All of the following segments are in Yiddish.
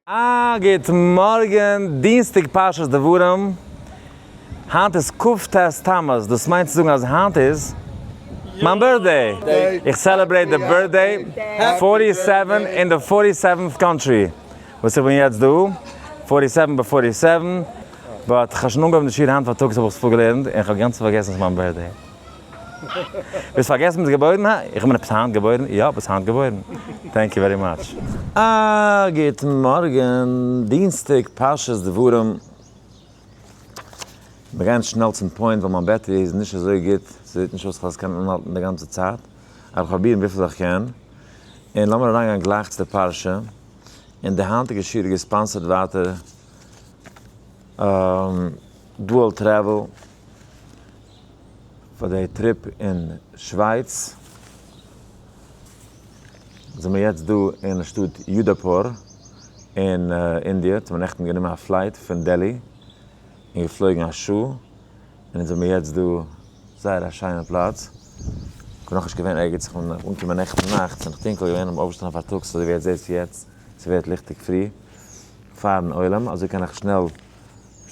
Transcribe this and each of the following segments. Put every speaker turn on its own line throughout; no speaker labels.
א גוט מארגען, דינסטאג פרשת דברים, היינט איז כ ט תמוז, דאס מיינט צו זאגן אז היינט איז מיין בירטדעי, איך סעלעברעיט די בירטדעי פארטי סעווען אין די פארטי סעווענט קאנטרי, וואס איך בין יעצט דא פארטי סעווען ביי פארטי סעווען, באט כ'האב שוין אנגעהויבן די שיעור היינט פארטאגס האב איך עס פארגעלערנט און כ'האב גאנץ פארגעסן ס'איז מיין בירטדעי. ביסט פארגעסן ביסט געבוירן היי? איך בין עפעס היינט געבוירן? יא ביסט היינט געבוירן. טענק יו ווערי מאטש. א גוטן מארגן, דינסטאג פרשת דברים, מיר גייען שנעל צום פוינט ווייל מיין בעטערי איז נישט אזוי גוט, ס'זעט נישט אויס פאר עס קען אנהאלטן די גאנצע צייט, אבער כ'פראביר וויפיל איך קען, און לאמיר אריינגיין גלייך צו די פרשה, און די היינטיגע שיעור איז געספאנסערד ווייטער דועל טרעוועל. פאר די טריפ אין שווייץ זעמיר יעצט דא אין שטאט יודאפור אין אינדיע, אונז האמיר נעכטן גענומען א פלייט פון דעלי און געפלויגן א שעה און אונז זעמיר יעצט דא, זייער א שיינע פלאץ, כ'בין נאכנישט געווען ערגעץ, איך בין אנגעקומען נעכטן נאכט ס'איז נאך טונקל געווען, כ'בין אויפגעשטאנען פארטאגס אזוי ווי עטס זעהט יעצט ס'ווערט ליכטיג פרי פארן עולם, אזוי קען איך שנעל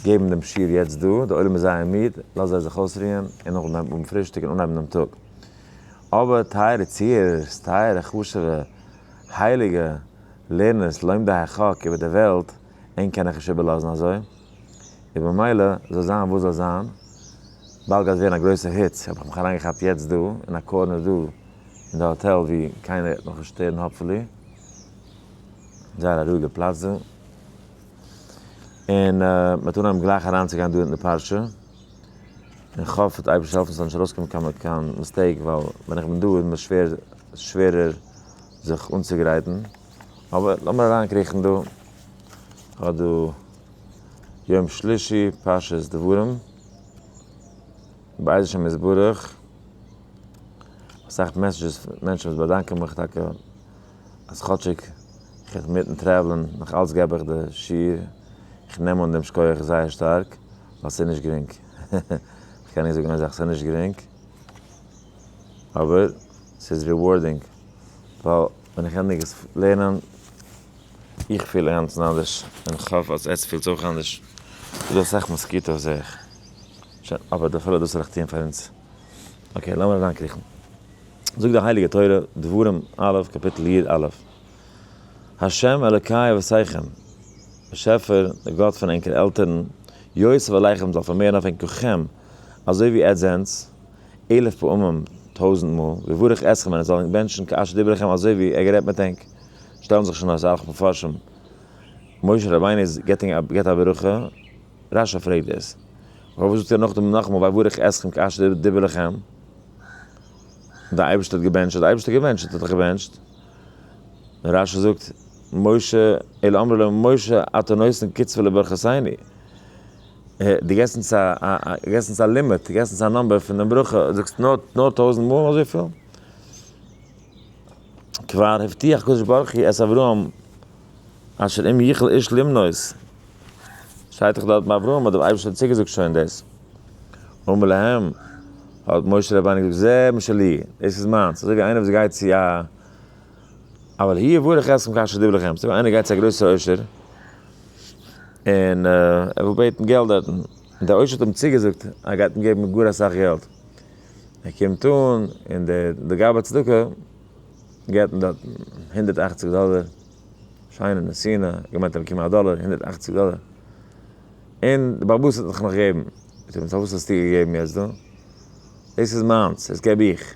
געבן דעם שיעור יעצט דא, דער עולם איז זייער מיד, לאז זיי זיך אויסרוען און נאכדעם האבן פרישטאג און אנהייבן דעם טאג. אבער טייערע צוהערערס, טייערע חשוב'ע, הייליגע, לערנערס, לומדי החק איבער דער וועלט, ענק קען איך נישט איבערלאזן אזוי, און במילא זאל זיין וואס זאל זיין, באלד גייט ווערן א גרויסע היץ, האב איך מיך אריינגעכאפט יעצט דא, אין א קארנער דא אין די האטעל ווי קיינער וועט מיך נישט שטערן האפפולי, זייער א רואיגע פלאץ דא. און מ'האט אנגעהויבן גלייך אריינצוגיין דא אין די פרשה, און כ'האף וועט אייבערשטער העלפן ס'זאל נישט ארויסקומען קיין קיין מיסטעיק, ווייל ווען איך בין דא איז מיר שווער שווערער זיך אנצוגרייטן, אבער לאמיר אריינקריכן דא, כ'האב דא יום שלישי פרשת דברים, בעז השם יתברך, אסאך מעסעדזשעס פון מענטשן וואס באדאנקען מיך טאקע. אז כאטשיג איך האב מיטן טרעוולען נאך אלץ געב איך די שיעור, איך נעם אן דעם שקויעך זייער שטארק ווייל ס'איז נישט גרינג, איך קען נישט זאגן אזאך ס'איז נישט גרינג, אבער ס'איז ריווארדינג, ווייל ווען איך ענדיג עס לערנען, איך פיל אינגאנצן אנדערש, און איך האף אז עטס פילטס אויך אנדערש, ס'איז דא אסאך מאסקיטאס זעה איך, שוין, אבער אפילו דאס וועל איך טוען פאר אונז, אקעי לאמיר אריינקריכן. זאגט די הייליגע תורה, דברים א', קאפיטל יד א', ה' אלקי אבותיכם, באשעפער, דער גאט פון ענקערע עלטערן, יוסיף עליכם, זאל פארמערן אויף ענק כוחכם, אזוי ווי עטץ זענטס, אלף פעמים, טויזנט מאל, ויברך אתכם, און ער זאל ענק בענטשן כאשר דיבר אליכם, אזוי ווי ער גערעדט מיט ענק. שטעלן זיך שוין אויס אסאך מפרשים, משה רבינו איז געבט א ברכה, רשי פרעגט דאס, פארוואס זאגט ער נאכדעם נאכאמאל ויברך אתכם כאשר דיבר אליכם? דער אייבערשטער האט געבענטשט, האט דער אייבערשטער געבענטשט, האט ער דאך געבענטשט. און רש י זאגט, משה, אלא אמרו לו, משה אתה נותן קצבה לברכותיני? דו געסט אונז א, געסט אונז א לימיט, דו געסט אונז א נומבער פון דעם ברכה, זאגסט נאר, נאר טויזנט מאל אזויפיל? כבר הבטיח הקדוש ברוך הוא את אברהם אשר אם יכלה איש למנוס, שטייט דאך דארט ביי אברהם האט דער אייבערשטער צוגעזאגט שוין דאס, אמר להם האט משה רבינו געזאגט זה מה שלי, דאס איז מיינס, אזוי ווי איינער וואס גייט צו א אבל הי' יברך אתכם כאשר דיבר לכם, אזוי ווי איינער גייט צו א גרויסע עושר און ער וויל בעטן געלט דארטן, און דער עושר האט אים צוגעזאגט אז ער גייט אים געבן גאר אסאך געלט. ער קומט אן און די גאב ד צדקה געבט אים דארט הונדערט אַכציק דאלער, שיינע נסינה, ער האט געמיינט ער וועט באקומען א דאלער, הונדערט אַכציק דאלער, און די בעל הבית האט נאך נאך געבן, זאגט אים פארוואס האסטו געגעבן יעצט דא, דאס איז מיינס, דאס געב איך,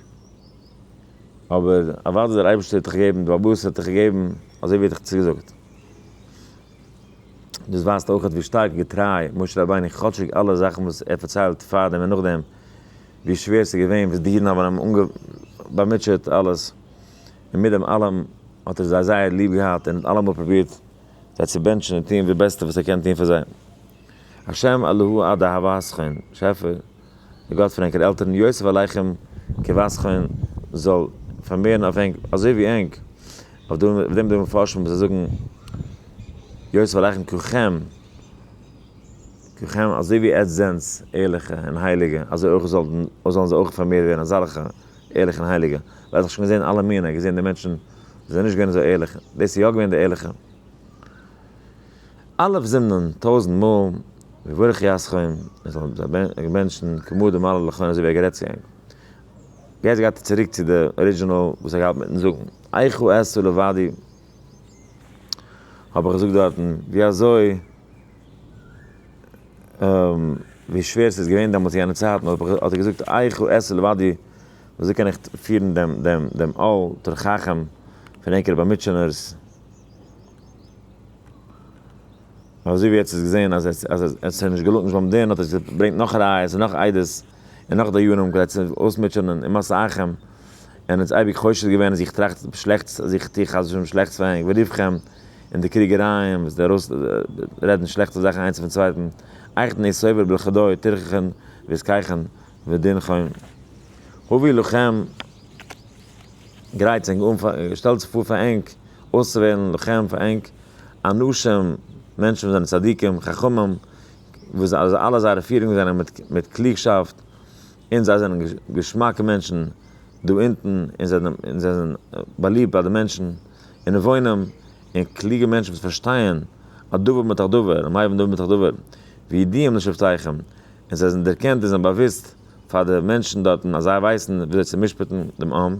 אבער אוואדי דער אייבערשטער האט דיך געגעבן, די בעל הבית האט דיך געגעבן אזוי ווי ער האט דיך צוגעזאגט. דאס ווייזט אויכעט ווי שטארק געטריי משה רבינו כאטשיג אלע זאכן וואס ער פארציילט פאר דעם און נאכדעם, ווי שווער ס'איז געווען, וואס די אידן האבן אים באמוטשעט אלעס, און מיט דעם אלעם האט ער זיי זייער ליב געהאט און אלעמאל פרובירט זיי צו בענטשן און טון די בעסטע וואס ער קען טון פאר זיי. השם אלוהו עד אהבה הסכון, שעפער, דער גאט פון ענקער עלטערן, יוסיף עליכם כבסכון, זאל פארמערן אויף ענק אזוי ווי ענק, אויף דעם די מפרשים וואס זיי זאגן יוסיף עליכם כחם, כולכם, אזוי ווי עטץ זענטס ערליכע און הייליגע, אזוי אויך זאלט און זאלן זיי אויך פארמערט ווערן אזעלכע ערליכע און הייליגע, ווייל ער האט דאך שוין געזען אלע מינים, ער האט געזען די מענטשן וואס זענען נישט געווען אזוי ערליכע, דאס איז יא געווען די ערליכע. א' זינדן טויזנט מאל, ויברך יי אסכם, ער זאל זיי בענטשן כמו דמעלה לכהן אזוי ווי ער האט גערעדט צו ענק. יעצט גייט ער צוריק צו די ארידזשינעל וואס ער האט געהאט מיטן זאגן, איכה עשו לבדי, האב איך געזאגט דארטן ווי אזוי ווי שווער ס'איז געווען דעמאלטס יענע צייטן האט ער געזאגט איך הוא עשה לבדי ווי אזוי קען איך פירן דעם דעם דעם אל תר חכם פון ענקערע באמיטשענערס. אזוי ווי עטס האטס געזען אז עס האט זיך נישט געלוינט נישט ביים דין האט ער געברענגט נאך ראיות און נאך עדות. און נאך דיינים כדי צו אויסמוטשענען און משא אייכם, און אונז אייביג חושד געווען אז איך טראכט שלעכטס אז איך טו חס ושלום שלעכטס פאר ענק וריווחם, און די קריגערייען וואס די ארויס רעדן שלעכטס זאכן איינס אויפן צווייטן, אייך נער סובר בלכדאי תרחכון וזקייכון ודינכון הווי לכם, גרייטס ענק אן פאר שטעלטס פאר פאר ענק אויסצווועלן לכם פאר ענק אנשים מענטשן וואס זענען צדיקים חכמים וואס אלע זייערע פירונגען זענען מיט מיט קלוגשאפט, און זיי זענען געשמאקע מענטשן דא אונטן, און זיי און זיי זענען באליבט ביי די מענטשן און נבונים און קלוגע מענטשן וואס פארשטייען א דבר מתוך דבר, און מייווען דבר מתוך דבר, וידעים לשבטיכם, און זיי זענען דערקענט און זענען באוואוסט פאר די מענטשן דארטן אז זיי ווייסן וויאזוי צו משפט'ן דעם עם,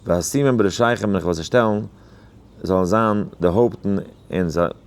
ואשימם בראשיכם און איך וועל זיי שטעלן זאלן זיין די הויפטן און זיי.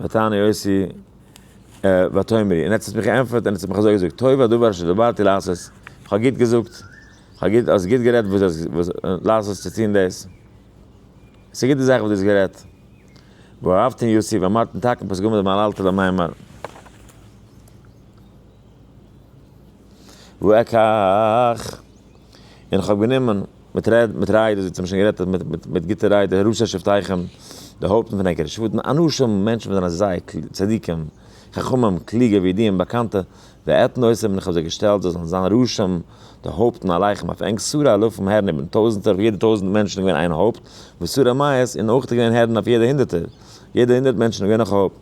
ותעני עושי ותאמרי, און עטס האט מיך געענטפערט און עטס האט מיך אזוי געזאגט, טוב הדבר אשר דברתי לעשות, איך האב גוט געזאגט, האסט גוט גערעדט וואס דו האסט לעשות צו טון דאס, ס'איז א גוטע זאך וואס דו האסט גערעדט, ואהבתן יוסיף, אמרתן תקן פסגה מדבר על אלתר למאי מר. וואו עקא איך? און כ'האב גענומען מיט רעד מיט ריידערס ווי צו האבן שוין גערעדט מיט מיט מיט גוטע ריידער ראשי שבטיכם די הויפטן פון ענקערע שבטן אנשים מענטשן וואס זענען זייער קלוג צדיקים חכמים קלוגע וידועים באקאנטע ועתן עושים און כ'האב זיי געשטעלט זיי זאלן זיין ראשים די הויפטן עליכם אויף ענק סארא אלפים הערן איבערן טויזנטער אויף יעדע טויזנט מענטשן איז געווען איין הויפט וסארא מאות און אויך איז געווען הערן אויף יעדע הונדערטער יעדע הונדערט מענטשן איז געווען נאך א הויפט.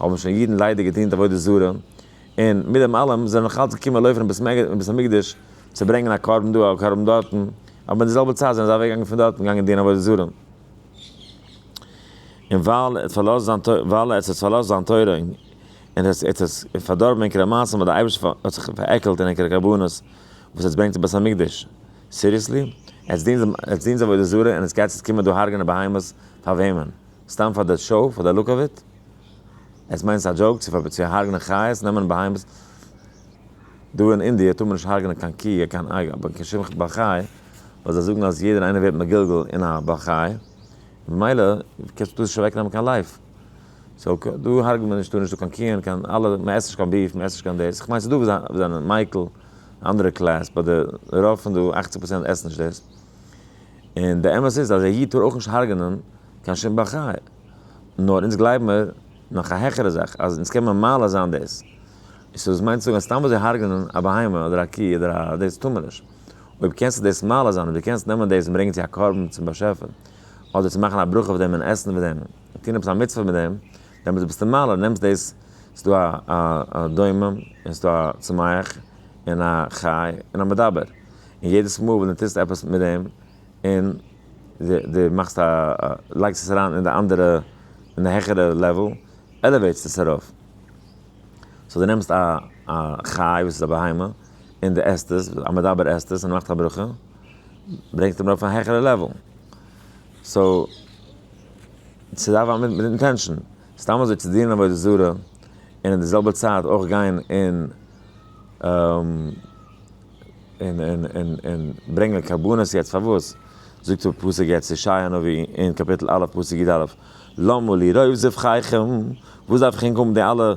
האבן שוין אידן ליידער געדינט עבודה זרה, און מיט דעם אלעם זענען נאך אלץ געקומען לויפער אין בית המקדש צו ברענגען א קרבן דא א קרבן דארטן, אבער אין די זעלבע צייט זענען זיי אוועק געגאנגען פון דארטן געגאנגען דינען עבודה זרה. און ווייל ער האט פארלאזט זיין תורה, ווייל ער האט עס פארלאזט זיין תורה און ער האט עס פארדארבן עקרת המעשים האט דער אייבערשטער האט זיך פארעקלט אין עקרת הקרבנות וואס עטס ברענגט אין בית המקדש, סיריעסלי? עטס דינט עטס דינט עבודה זרה און עטס גייטס יעצט קומען דא הרג'נען בהמות? פאר וועמען? סתם פאר די שאו, פאר די לוק אוו איט? עס מיינט עס א דזשאוק צו צו הרגנען חיות, נעמען בהמות, דא אין אינדיע טאר מען נישט הרגנען קיין קי און קיין אייג אבער קיין שום בעל חי, ווייל זיי זאגן אז יעדער איינער ווערט מגולגל אין א בעל חי, ממילא קענסטו דא נישט אוועק נעמען קיין לייף, סאו דא הרג'ט מען נישט, דא נישטא קיין קיען, קיין אלע, מען עסט נישט קיין ביף, מען עסט נישט קיין דאס, איך מיין ס'איז דא וואס זיי זענען מייקל אנדערע קלעס באט די רוב פון די אכציג פראצענט עסן נישט דאס. און די אמת איז אז א איד טאר אויך נישט הרג'נען קיין שום בעל חי, נאר אונז גלייב מיר נאך א העכערע זאך אז אונז קען מיר מעלה זיין דאס, סאו דאס מיינט צו זאגן אז סתם אזוי הרג'נען א בהמה אדער א קי אדער א דאס טאר מען נישט, אויב קענסטו דאס מעלה זיין, אויב דו קענסט נעמען דאס און ברענגען צו א קרבן צום באשעפער, אדער צו מאכן א ברכה אויף דעם און עסן מיט דעם און טון עפעס א מצוה מיט דעם, דעמאלטס ביסטו אין מעלה, נעמסט דאס, ס'איז דא א דומם, און ס'איז דא א צומח, און א חי, און א מדבר. און יעדעס מאל ווען דו טוסט עפעס מיט דעם, און דו מאכסט א, לייגסט עס אריין אין די אנדערע, אין די העכערע לעוועל, עלעוועיטסט עס ארויף. סאו דו נעמסט א חי וואס איז א בהמה, און דו עסט עס, א מדבר עסט עס און ער מאכט א ברכה, ברענגסטו אים ארויף אויף א העכערע לעוועל. סאו, ס'דארף זיין מיט אינטענשאן. סתם אזוי צו דינען עבודה זרה און אין די זעלבע צייט אויך גיין און און און און און ברענגען קרבנות יעצט פארוואס? זאגט דער פסוק יעצט ישעי' הנביא אין קאפיטל א' פסוק י ד, למה לי רוב זבחיכם, וואס דארף איך ענק האבן די אלע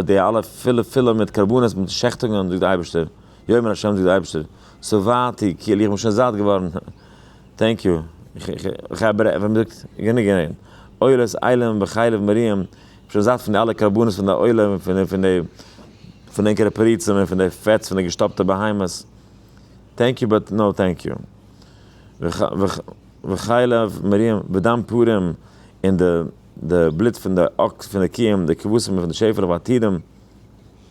די אלע פילע פילע מיט קרבנות מיט שעכטונגען זאגט די אייבערשטער, יאמר ה' זאגט די אייבערשטער, שבעתי כי אל איך בין שוין זאט געווארן. טענק יו, איך האב ר, ווי מ'זאגט, גענוג גענומען. עולת עילם וחלב מרים, כ'בין שוין זאט פון די אלע קרבנות פון די עולם און פון פון די פון די ענקערע פריצים און פון די פעטס פון די געשטאפטע בהמות. טענק יו באט נאו טענק יו. וחלב מרים ודם פרים און די די בלוט פון די אקס פון די קיעם, די כבשים און פון די שעפעלעך בעתידם.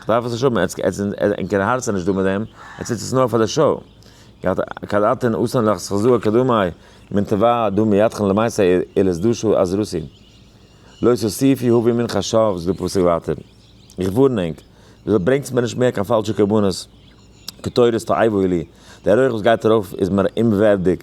כ'דארף עס נישט האבן, עטס אין קיין הארץ איז נישט דא מיט דעם, עטס טוט עס נאר פאר די שאו. געהאט קאדאטען אסאן לאך סכזוה כדמאי מן תבא דא מידכן למעשה איל איז דא שאו אז ראסי לא תוסיפי הווי מן חשב איז דא פסוק ווייטער איך ווארן ענק וויזוי ברענגטס מיר נישט מער קיין פאלשע קרבנות קטורת תועבו לי דער רויך וואס גייט ארויף איז מיר אומווערדיג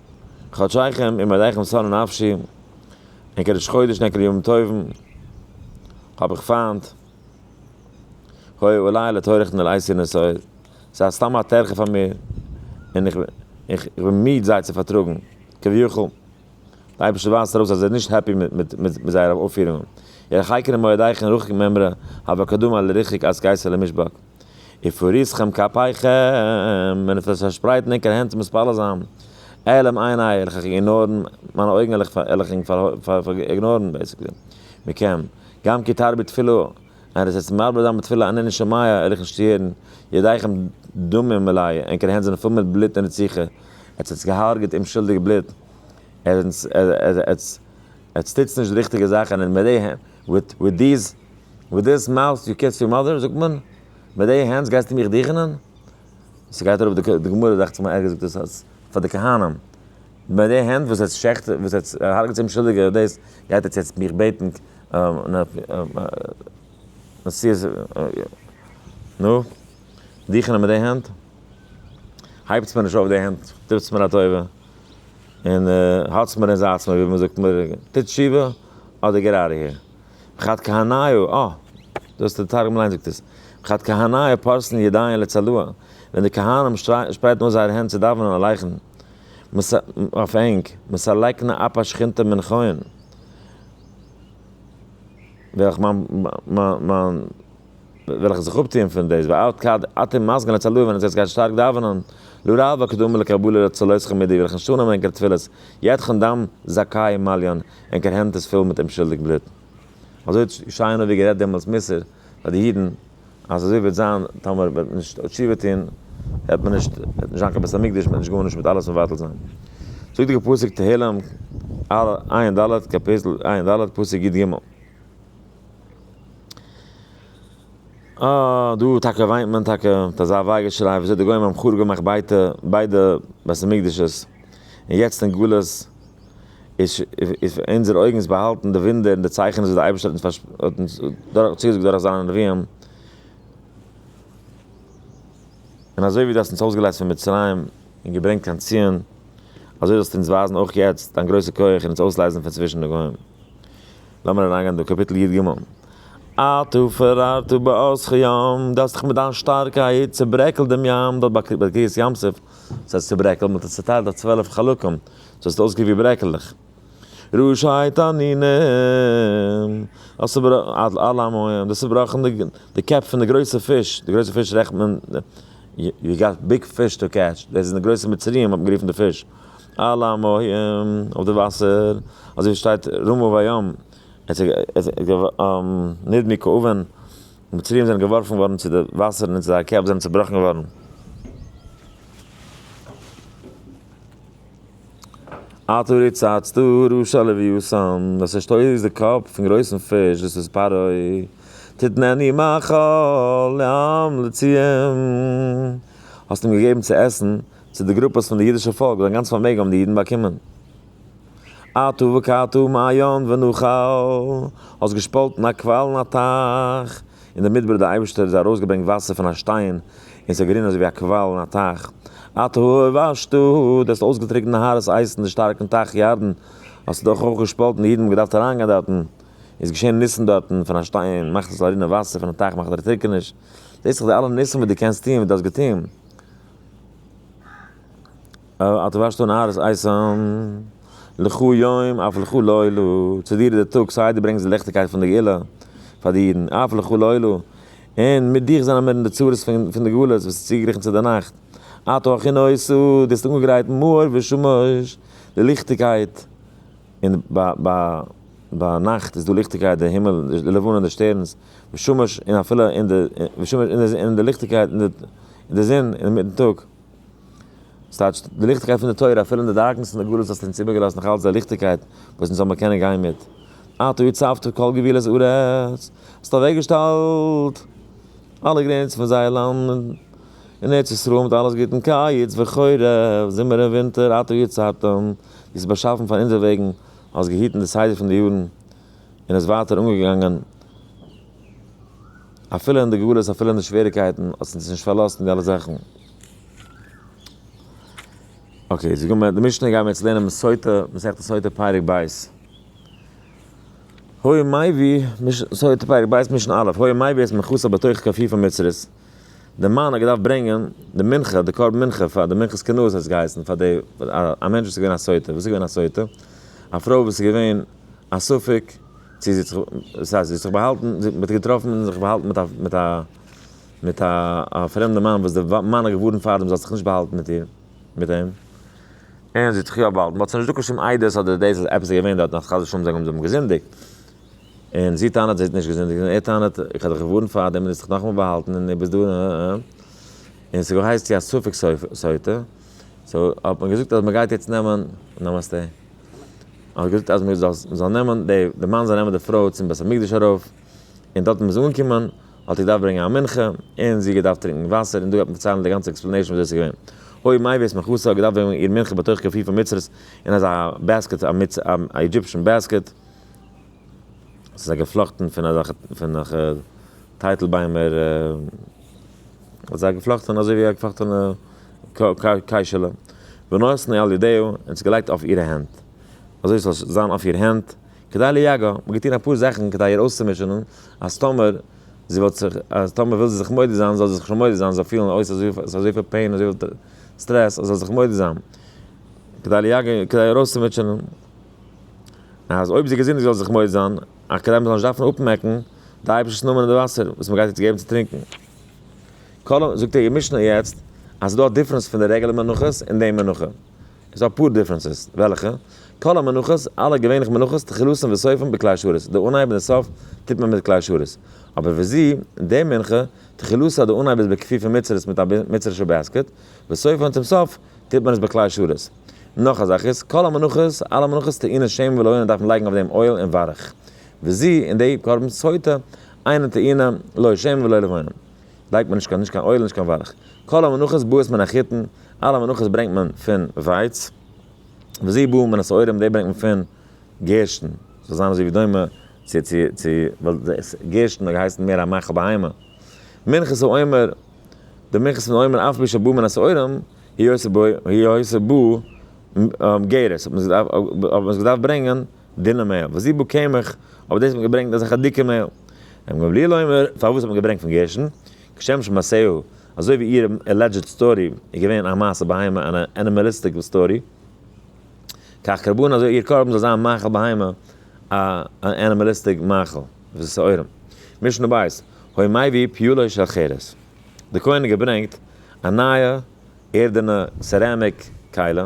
חדשיכם עם עליכם שׂרה נפֿשי, אין קדש חודש נקרא ימים טובים, האָב איך פֿײַנט, הוי אולי לטורחן אל אייסיר נשׂאיר, זײ איז סתּם אַ טרחה פֿאַר מיר, און איך בין מיד זיי צו פֿאַרטראָגן, כּביכול. דער אייבערשטער ווײַזט אַרויס, אַז ער איז נישט העפּי מיט זייערע אויפֿפֿירונגען. איר החיקרים מועדיכם רחוק מעם רע, הוה קדום אל ריחוק אַז גייסט אל המשבק. ופריסכם כפיכם, ווען עס וועט זיך פארשפרייטן ענקערע הענט צו מתפלל זיין, אעלם עיני, וועל איך איגנארן, מיינע אויגן וועל איך איגנארן, בעיסיקלי, מכם, גם כי תרבי תפלה, און עס וועט זיך מרבה זיין בתפלה ענני שומעיה, וועל איך נישט הערן, ידיכם דמים מלאי, ענקערע הענט זענען פול מיט בלוט און רציחה, עטס האטס געהארגעט אומשולדיגע בלוט, עטס טוטס נישט די ריכטיגע זאכן, און מיט די הענט. וויט דיס מאוט יו קיס יור מאדער זאגט מען? מיט די הענטס גייסטו מיך דיכענען? ס'גייט אראפ די גמרא דאכט זיך מיר ערגעץ זאגט עס אז פאר די כהנים מיט די הענט וואס עטס שעכטער וואס עטס הרג'טס אומשולדיגער דאס גייט עטס יעצט מיך בעטן נשיאות נו דיכענען מיט די הענט? הייבטס מיר נישט אויף די הענט טוטס מיר א טובה און האלטס מיר און זייטס מיר ווי מ'זאגט מיר טוט תשובה אדער געט אוט אוו העיר. וכת כהנאיו, אה! דאס איז די תרגום אליין זאגט עס. וכת כהנאיו פארסן ידיהם לצלוה, ווען די כהנים שפרייטן אויס זייערע הענט צו דאווענען און לייכן, אויף ענג, מסלקנה אפה שכינתה מן כהן, וועל איך מיין, מיין, וועל איך זיך אפטוען פון דאס, ועד כד אתם מזגין לצלוה, ווען עטס גייט שטארק דאווענען, לא ראה בה קדומה לקבלה לצלותכם מידי, וועל איך נישט אננעמען ענקערע תפילות, יתכן דם זכאי מליון, און קיין הענט איז פול מיט אומשולדיג בלוט. אזוי האט ישעיהו הנביא גערעדט דעמאלטס מוסר פאר די אידן, אז אזוי וועט זיין טאמער וועט מען נישט תשובה טון, וועט מען נישט וועט נישט זיין קיין בית המקדש, מען וועט נישט גארנישט מיט אלעס מבטל זיין. זאגט די פסוק תהלים ר, עיין ד, קאפיטל עיין ד, פסוק י ג. אה, דא טאקע וויינט מען טאקע מיט אזא וויי געשריי, וויאזוי די גוים האבן חרוב געמאכט בייטע ביידע בית המקדשות, און יעצט אין גלות, איז פאר אונזערע אויגן איז באהאלטן די וואונדער און די צייכענעס וואס דער אייבערשטער האט אונז האט אונז צוגעזאגט דורך זיינע נביאים, און אזוי ווי דו האסט אונז אויסגעלייזט פון מצרים און געברענגט קיין ציון, אזוי זאלסטו אונז ווייזן אויך יעצט דיין גרויסע כח און אונז אויסלייזן פון צווישן די גוים. לאמיר אריינגיין דא, קאפיטל י ג. אתה פררת בעוזך ים, דו האסט דיך מיט דיין שטארקייט צעברעקלט דעם ים, דארט ביי קרית ים סוף, ס'הייסט צעברעקלט, מען האט עס צעטיילט אויף צוועלף חלקים, דו האסט אויסגעקוקט ווי ברעקעלעך. רשעית ענינים. האסט צובראכן אלע המון. דו האסט צובראכן די קעפ פון די גרויסע פיש. די גרויסע פיש רעכנט מען. יו גאט ביג פיש טו קעטש. דאס זענען די גרויסע מצריים האט מען גערופן די פיש. אלע המון אויף די וואסער. אזוי ווי שטייט רמו וים. נדמו כאבן. די מצריים זענען געווארפן געווארן צו די וואסערן און זייער קעפ זענען צובראכן געווארן. אט אורי צייטסט דא רשע לוויתן, וואס ער שטויסט איז די קאפ פון גרויסן פיש דאס איז פרעה, תתנני מאכל לעם לצים, האסט אים געגעבן צו עסן צו די גרופעס פון די אידישע פאלק, זיין גאנץ פארמעגן האבן די אידן באקומען, אתה וקעת מעיין ונוכל, האסט געשפאלטן א קוואל און א טייך, אין דער מדבר דער אייבערשטער איז ארויס געברענגט וואסער פון א שטיין און עס איז גערינען אזוי ווי א קוואל אין א טייך אתה הובשת דו האסט אויסגעטריקנט נהרות אייז אין די שטארקן טייך ירדן האסטו דאך אויך געשפאלטן די אידן האבן געדארפט אריינגיין דארטן איז געשען ניסן דארטן פון א שטיין מאכט עס זאל רינען וואסער פון א טייך מאכט דערטריקעניש זעסט דאך די אלע ניסים וואס דו קענסט טון וואס דו האסט געטון. אה, דו ווארסט אן ארז אייסאן, לכו יום אף לכו לילה, צו דיר איז דער טאג, סיי דו ברענגסט די ליכטיגקייט פון די גאולה פאר די אידן, אף לכו לילה, און מיט דיך זענען מיר אין די צרות פון די גלות וואס איז צוגעגריכן צו די נאכט, אתה הכי נושא, דו האסט אנגעגרייט מאור ושמש, די ליכטיגקייט, און ביי נאכט איז דא ליכטיגקייט, די הימל, די לבנה און די שטערנס, ושמש, און אפילו אין די, ושמש, און די ליכטיגקייט, און די זון, אינמיטן טאג. דאס טייטש די ליכטיגקייט פון די תורה, אפילו אין די דארקנעס פון די גלות האסטו אונז איבערגעלאזט נאך אלץ די ליכטיגקייט וואס אונז זאל מיר קענען גיין מיט. אתה הצבת כל גבולות הארץ, האסט אוועקגעשטעלט אלע גרעניצן פון זייער לאנד, אין ארץ ישראל מיט אלעס גוט אין קיץ וחורף, זומער און ווינטער, אתה יצרת, דו האסט באשאפן פאר אונזער וועגן, האסט געהיטן די סדר פון די יארן, און עס ווייטער אנגעגאנגען. אפילו אין די גלות אפילו אין די שוועריקייטן האט עס אונז נישט פארלאזט אין די אלע זאכן. אקעי, זאג מיר די משנה גיימיר יעצט לערנען מס' סוטה, מסכת סוטה פרק ב'. הוי מאי ווי, מש ס סוטה פרק ב' משנה א', הוי מאי ווי עס מכוסה בתוך כפי' פון מצרית, די מאן האט געדארפט ברענגען די מנחה, די קרבן מנחה פאר די מנחת כנוס האט עס געהייסן, פאר די א מענטש וואס איז געווען א סוטה, וואס איז געווען א סוטה? א פרוי וואס איז געווען א ספק. צו זי האט זיך באהאלטן, זי האט געטראפן און זיך באהאלטן מיט א, מיט א, א פרעמדע מאן וואס די מאן האט געווארנט פאר דעם זי זאל זיך נישט באהאלטן מיט איר, מיט אים, און זי האט זיך יא באהאלטן, מ'האט זיך נישט דא קיין שום עדות אדער דאס אז עפעס איז געווען דארט אז חס ושלום זיי האבן דעם געזינדיגט, און זי טענה'ט זי האט נישט געזינדיגט און ער טענה'ט איך האב דיך געווארנט פאר דעם און דו האסט זיך נאכאמאל באהאלטן און דו ביסט דא נה נה נה, און ס'איז געהייסט צו א ספק סוטה, סאו האט מען געזאגט אז מ'גייט יעצט נעמען, נאמאסטעי. האט געזאגט אז מ'זאל נעמען די, די מאן זאל נעמען די פרוי צום בית המקדש ארויף, און דארט מ'איז אנגעקומען האט ער געדארפט ברענגען א מנחה, און זי האט געדארפט טרינקען וואסער, און דא גייט מען פארציילן די גאנצע עקספלענעישן וויאזוי עס איז געווען. אוי מיי ווי עס מכסה האט געדארפט ברענגען איר מנחה בתוך כפיף המצרית אין אזא בעסקעט א אידזשיפשן בעסקעט, ס'איז א געפלאכטן פון אזעלכע טייטל ביימער. האט זיי געפלאכטען אזוי ווי א געפלאכטענע קיישעלע, ונאסני על ידיה, און עס געלייגט אויף אירע הענט, אזוי ס'זאל זיין אויף איר הענט, כדי ליגע, מ'האט געטון אפאר זאכען כדי איר אויסצומישענען, אז טאמער זי וועט זיך, אז טאמער וויל זי זיך מודה זיין, זאל זי זיך שוין מודה זיין, זאל פילען אויס אז ס'איז אזויפיל פעין, אזויפיל סטרעס, אז זאל זיך מודה זיין, כדי ליגע, כדי איר אויסצומיטשענען, אז אויב זי איז געזונט זאל זי זיך מודה זיין. אקעדעמער זאל נישט דארפן אפמעקן די אייבערשטער'ס נאמען אין די וואסער וואס מען גייט יעצט געבן צו טרינקן. קודם זאגט ער אין משנה יעצט אז ס'דא א דיפרענס פון די רעגולער מנחות און די מנחה. איז דא אפאר דיפרענסעס. וועלכע? כל המנחות, אלע געווענליכע מנחות, תחילתן וסופן בכלי שרת, די אנהייב און די סוף טוט מען מיט כלי שרת. אבער וזי, די מנחה, תחילתה די אנהייב איז בכפיפה מצרית מיט א מצרש'ע בעסקעט, וסופן צום סוף טוט מען עס בכלי שרת. נאך א זאך איז, כל המנחות, אלע מנחות טעינה שמן ולא יונה דארף מען לייגן אויף דעם אויל און ווארעך. וזי, און די, קרבן סוטה, אינה טעינה, לא שמן ולא לבונה. לייגט מען נישט קיין נישט קיין אויל און נישט קיין ווארעך. כל המנחות בועט מען א חיטין, אלע מנחות ברענגט מען פון ווייץ. וזי בועט מען א שעורים, די ברענגט מען פון גערשטן. ס'זאל זיין אזוי ווי דומה צו צו צו ווייל גערשטן האט געהייסן מער א מאכל בהמה. מנחת העומר, די מנחת פון עומר אף פי שבועט מען א שעורים, היא עושה בו, היא עושה בו גרות, האט מען עס געדארפט ברענגען דינע מעהל, וזיב בו קמח, אויף דאס האט מען געברענגט אזעלכע דיקע מעהל. אמר גמליאל אומר, פארוואס האט מען געברענגט פון גרשון? כשם שמעשהו, אזוי ווי איהר עלעדזשעד סטארי איז געווען א מעשה בהמה אן ענימעליסטיק סטארי, כך קרבן אזוי איהר קרבן זאל זיין מאכל בהמה אן ענימעליסטיק מאכל, ושעורים. משנה בית, הוי מאי ויהי פיולא של חרס, די כהן האט געברענגט א נייע ערדענע סעראמיק קיילע,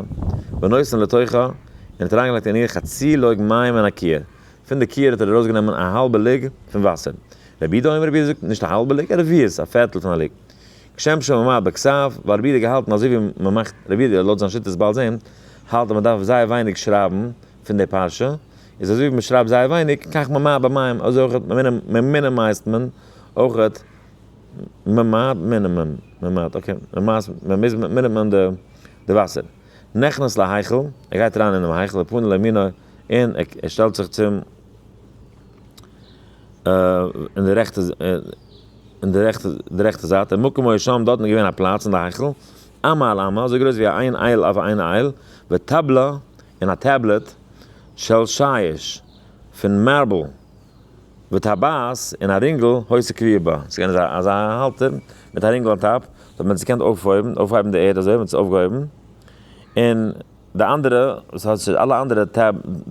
ונושא לתוכה, און האט אריינגעלייגט אין איר חצי לוג מים מן הכיור, פון די כיור האט ער ארויסגענומען א האלבע לוג פון וואסער, רבי דא אמר רבי זאגט נישט א האלבע לוג, א רביעית, א פערטל פון א לוג, כשם שמאמר בכסף, ווייל רבי האט געהאלטן אז אזויווי מען מאכט, רבי האט לויט זיין שיטת בעל זעם, האלט אז מען דארף זייער ווייניג שרייבן פון די פרשה, איז אזויווי מען שרייבט זייער ווייניג, כך ממעט במים, אזוי אויך מינימייזט מען אויך ממעט מינימום ממעט אקעי ממעט ממיז מינימום די די וואסער נכנס להיכל ער גייט אריין אינעם היכל ופונה לימינו און ער שטעלט זיך צום אין די רעכטע אין די רעכטע די רעכטע זייט מקום אויך שם דארטן געווען א פלאץ אין די היכל אמה על אמה אזוי גרויס ווי איין אייל אויף איין אייל וטבלא און א טעבלעט של שיש פון מארבל. וטבעת און א רינגל הויז תקוויע בה, ס'איז געווען אזא אזא האלטער מיט א רינגל אן טאפ, וואס מ'האט זיך געקענט אויפהויבן, אויפהייבן די ערד אזוי ווי מ'האט עס אויפגעהויבן, און די אנדערע, וואס האט שוין אלע אנדערע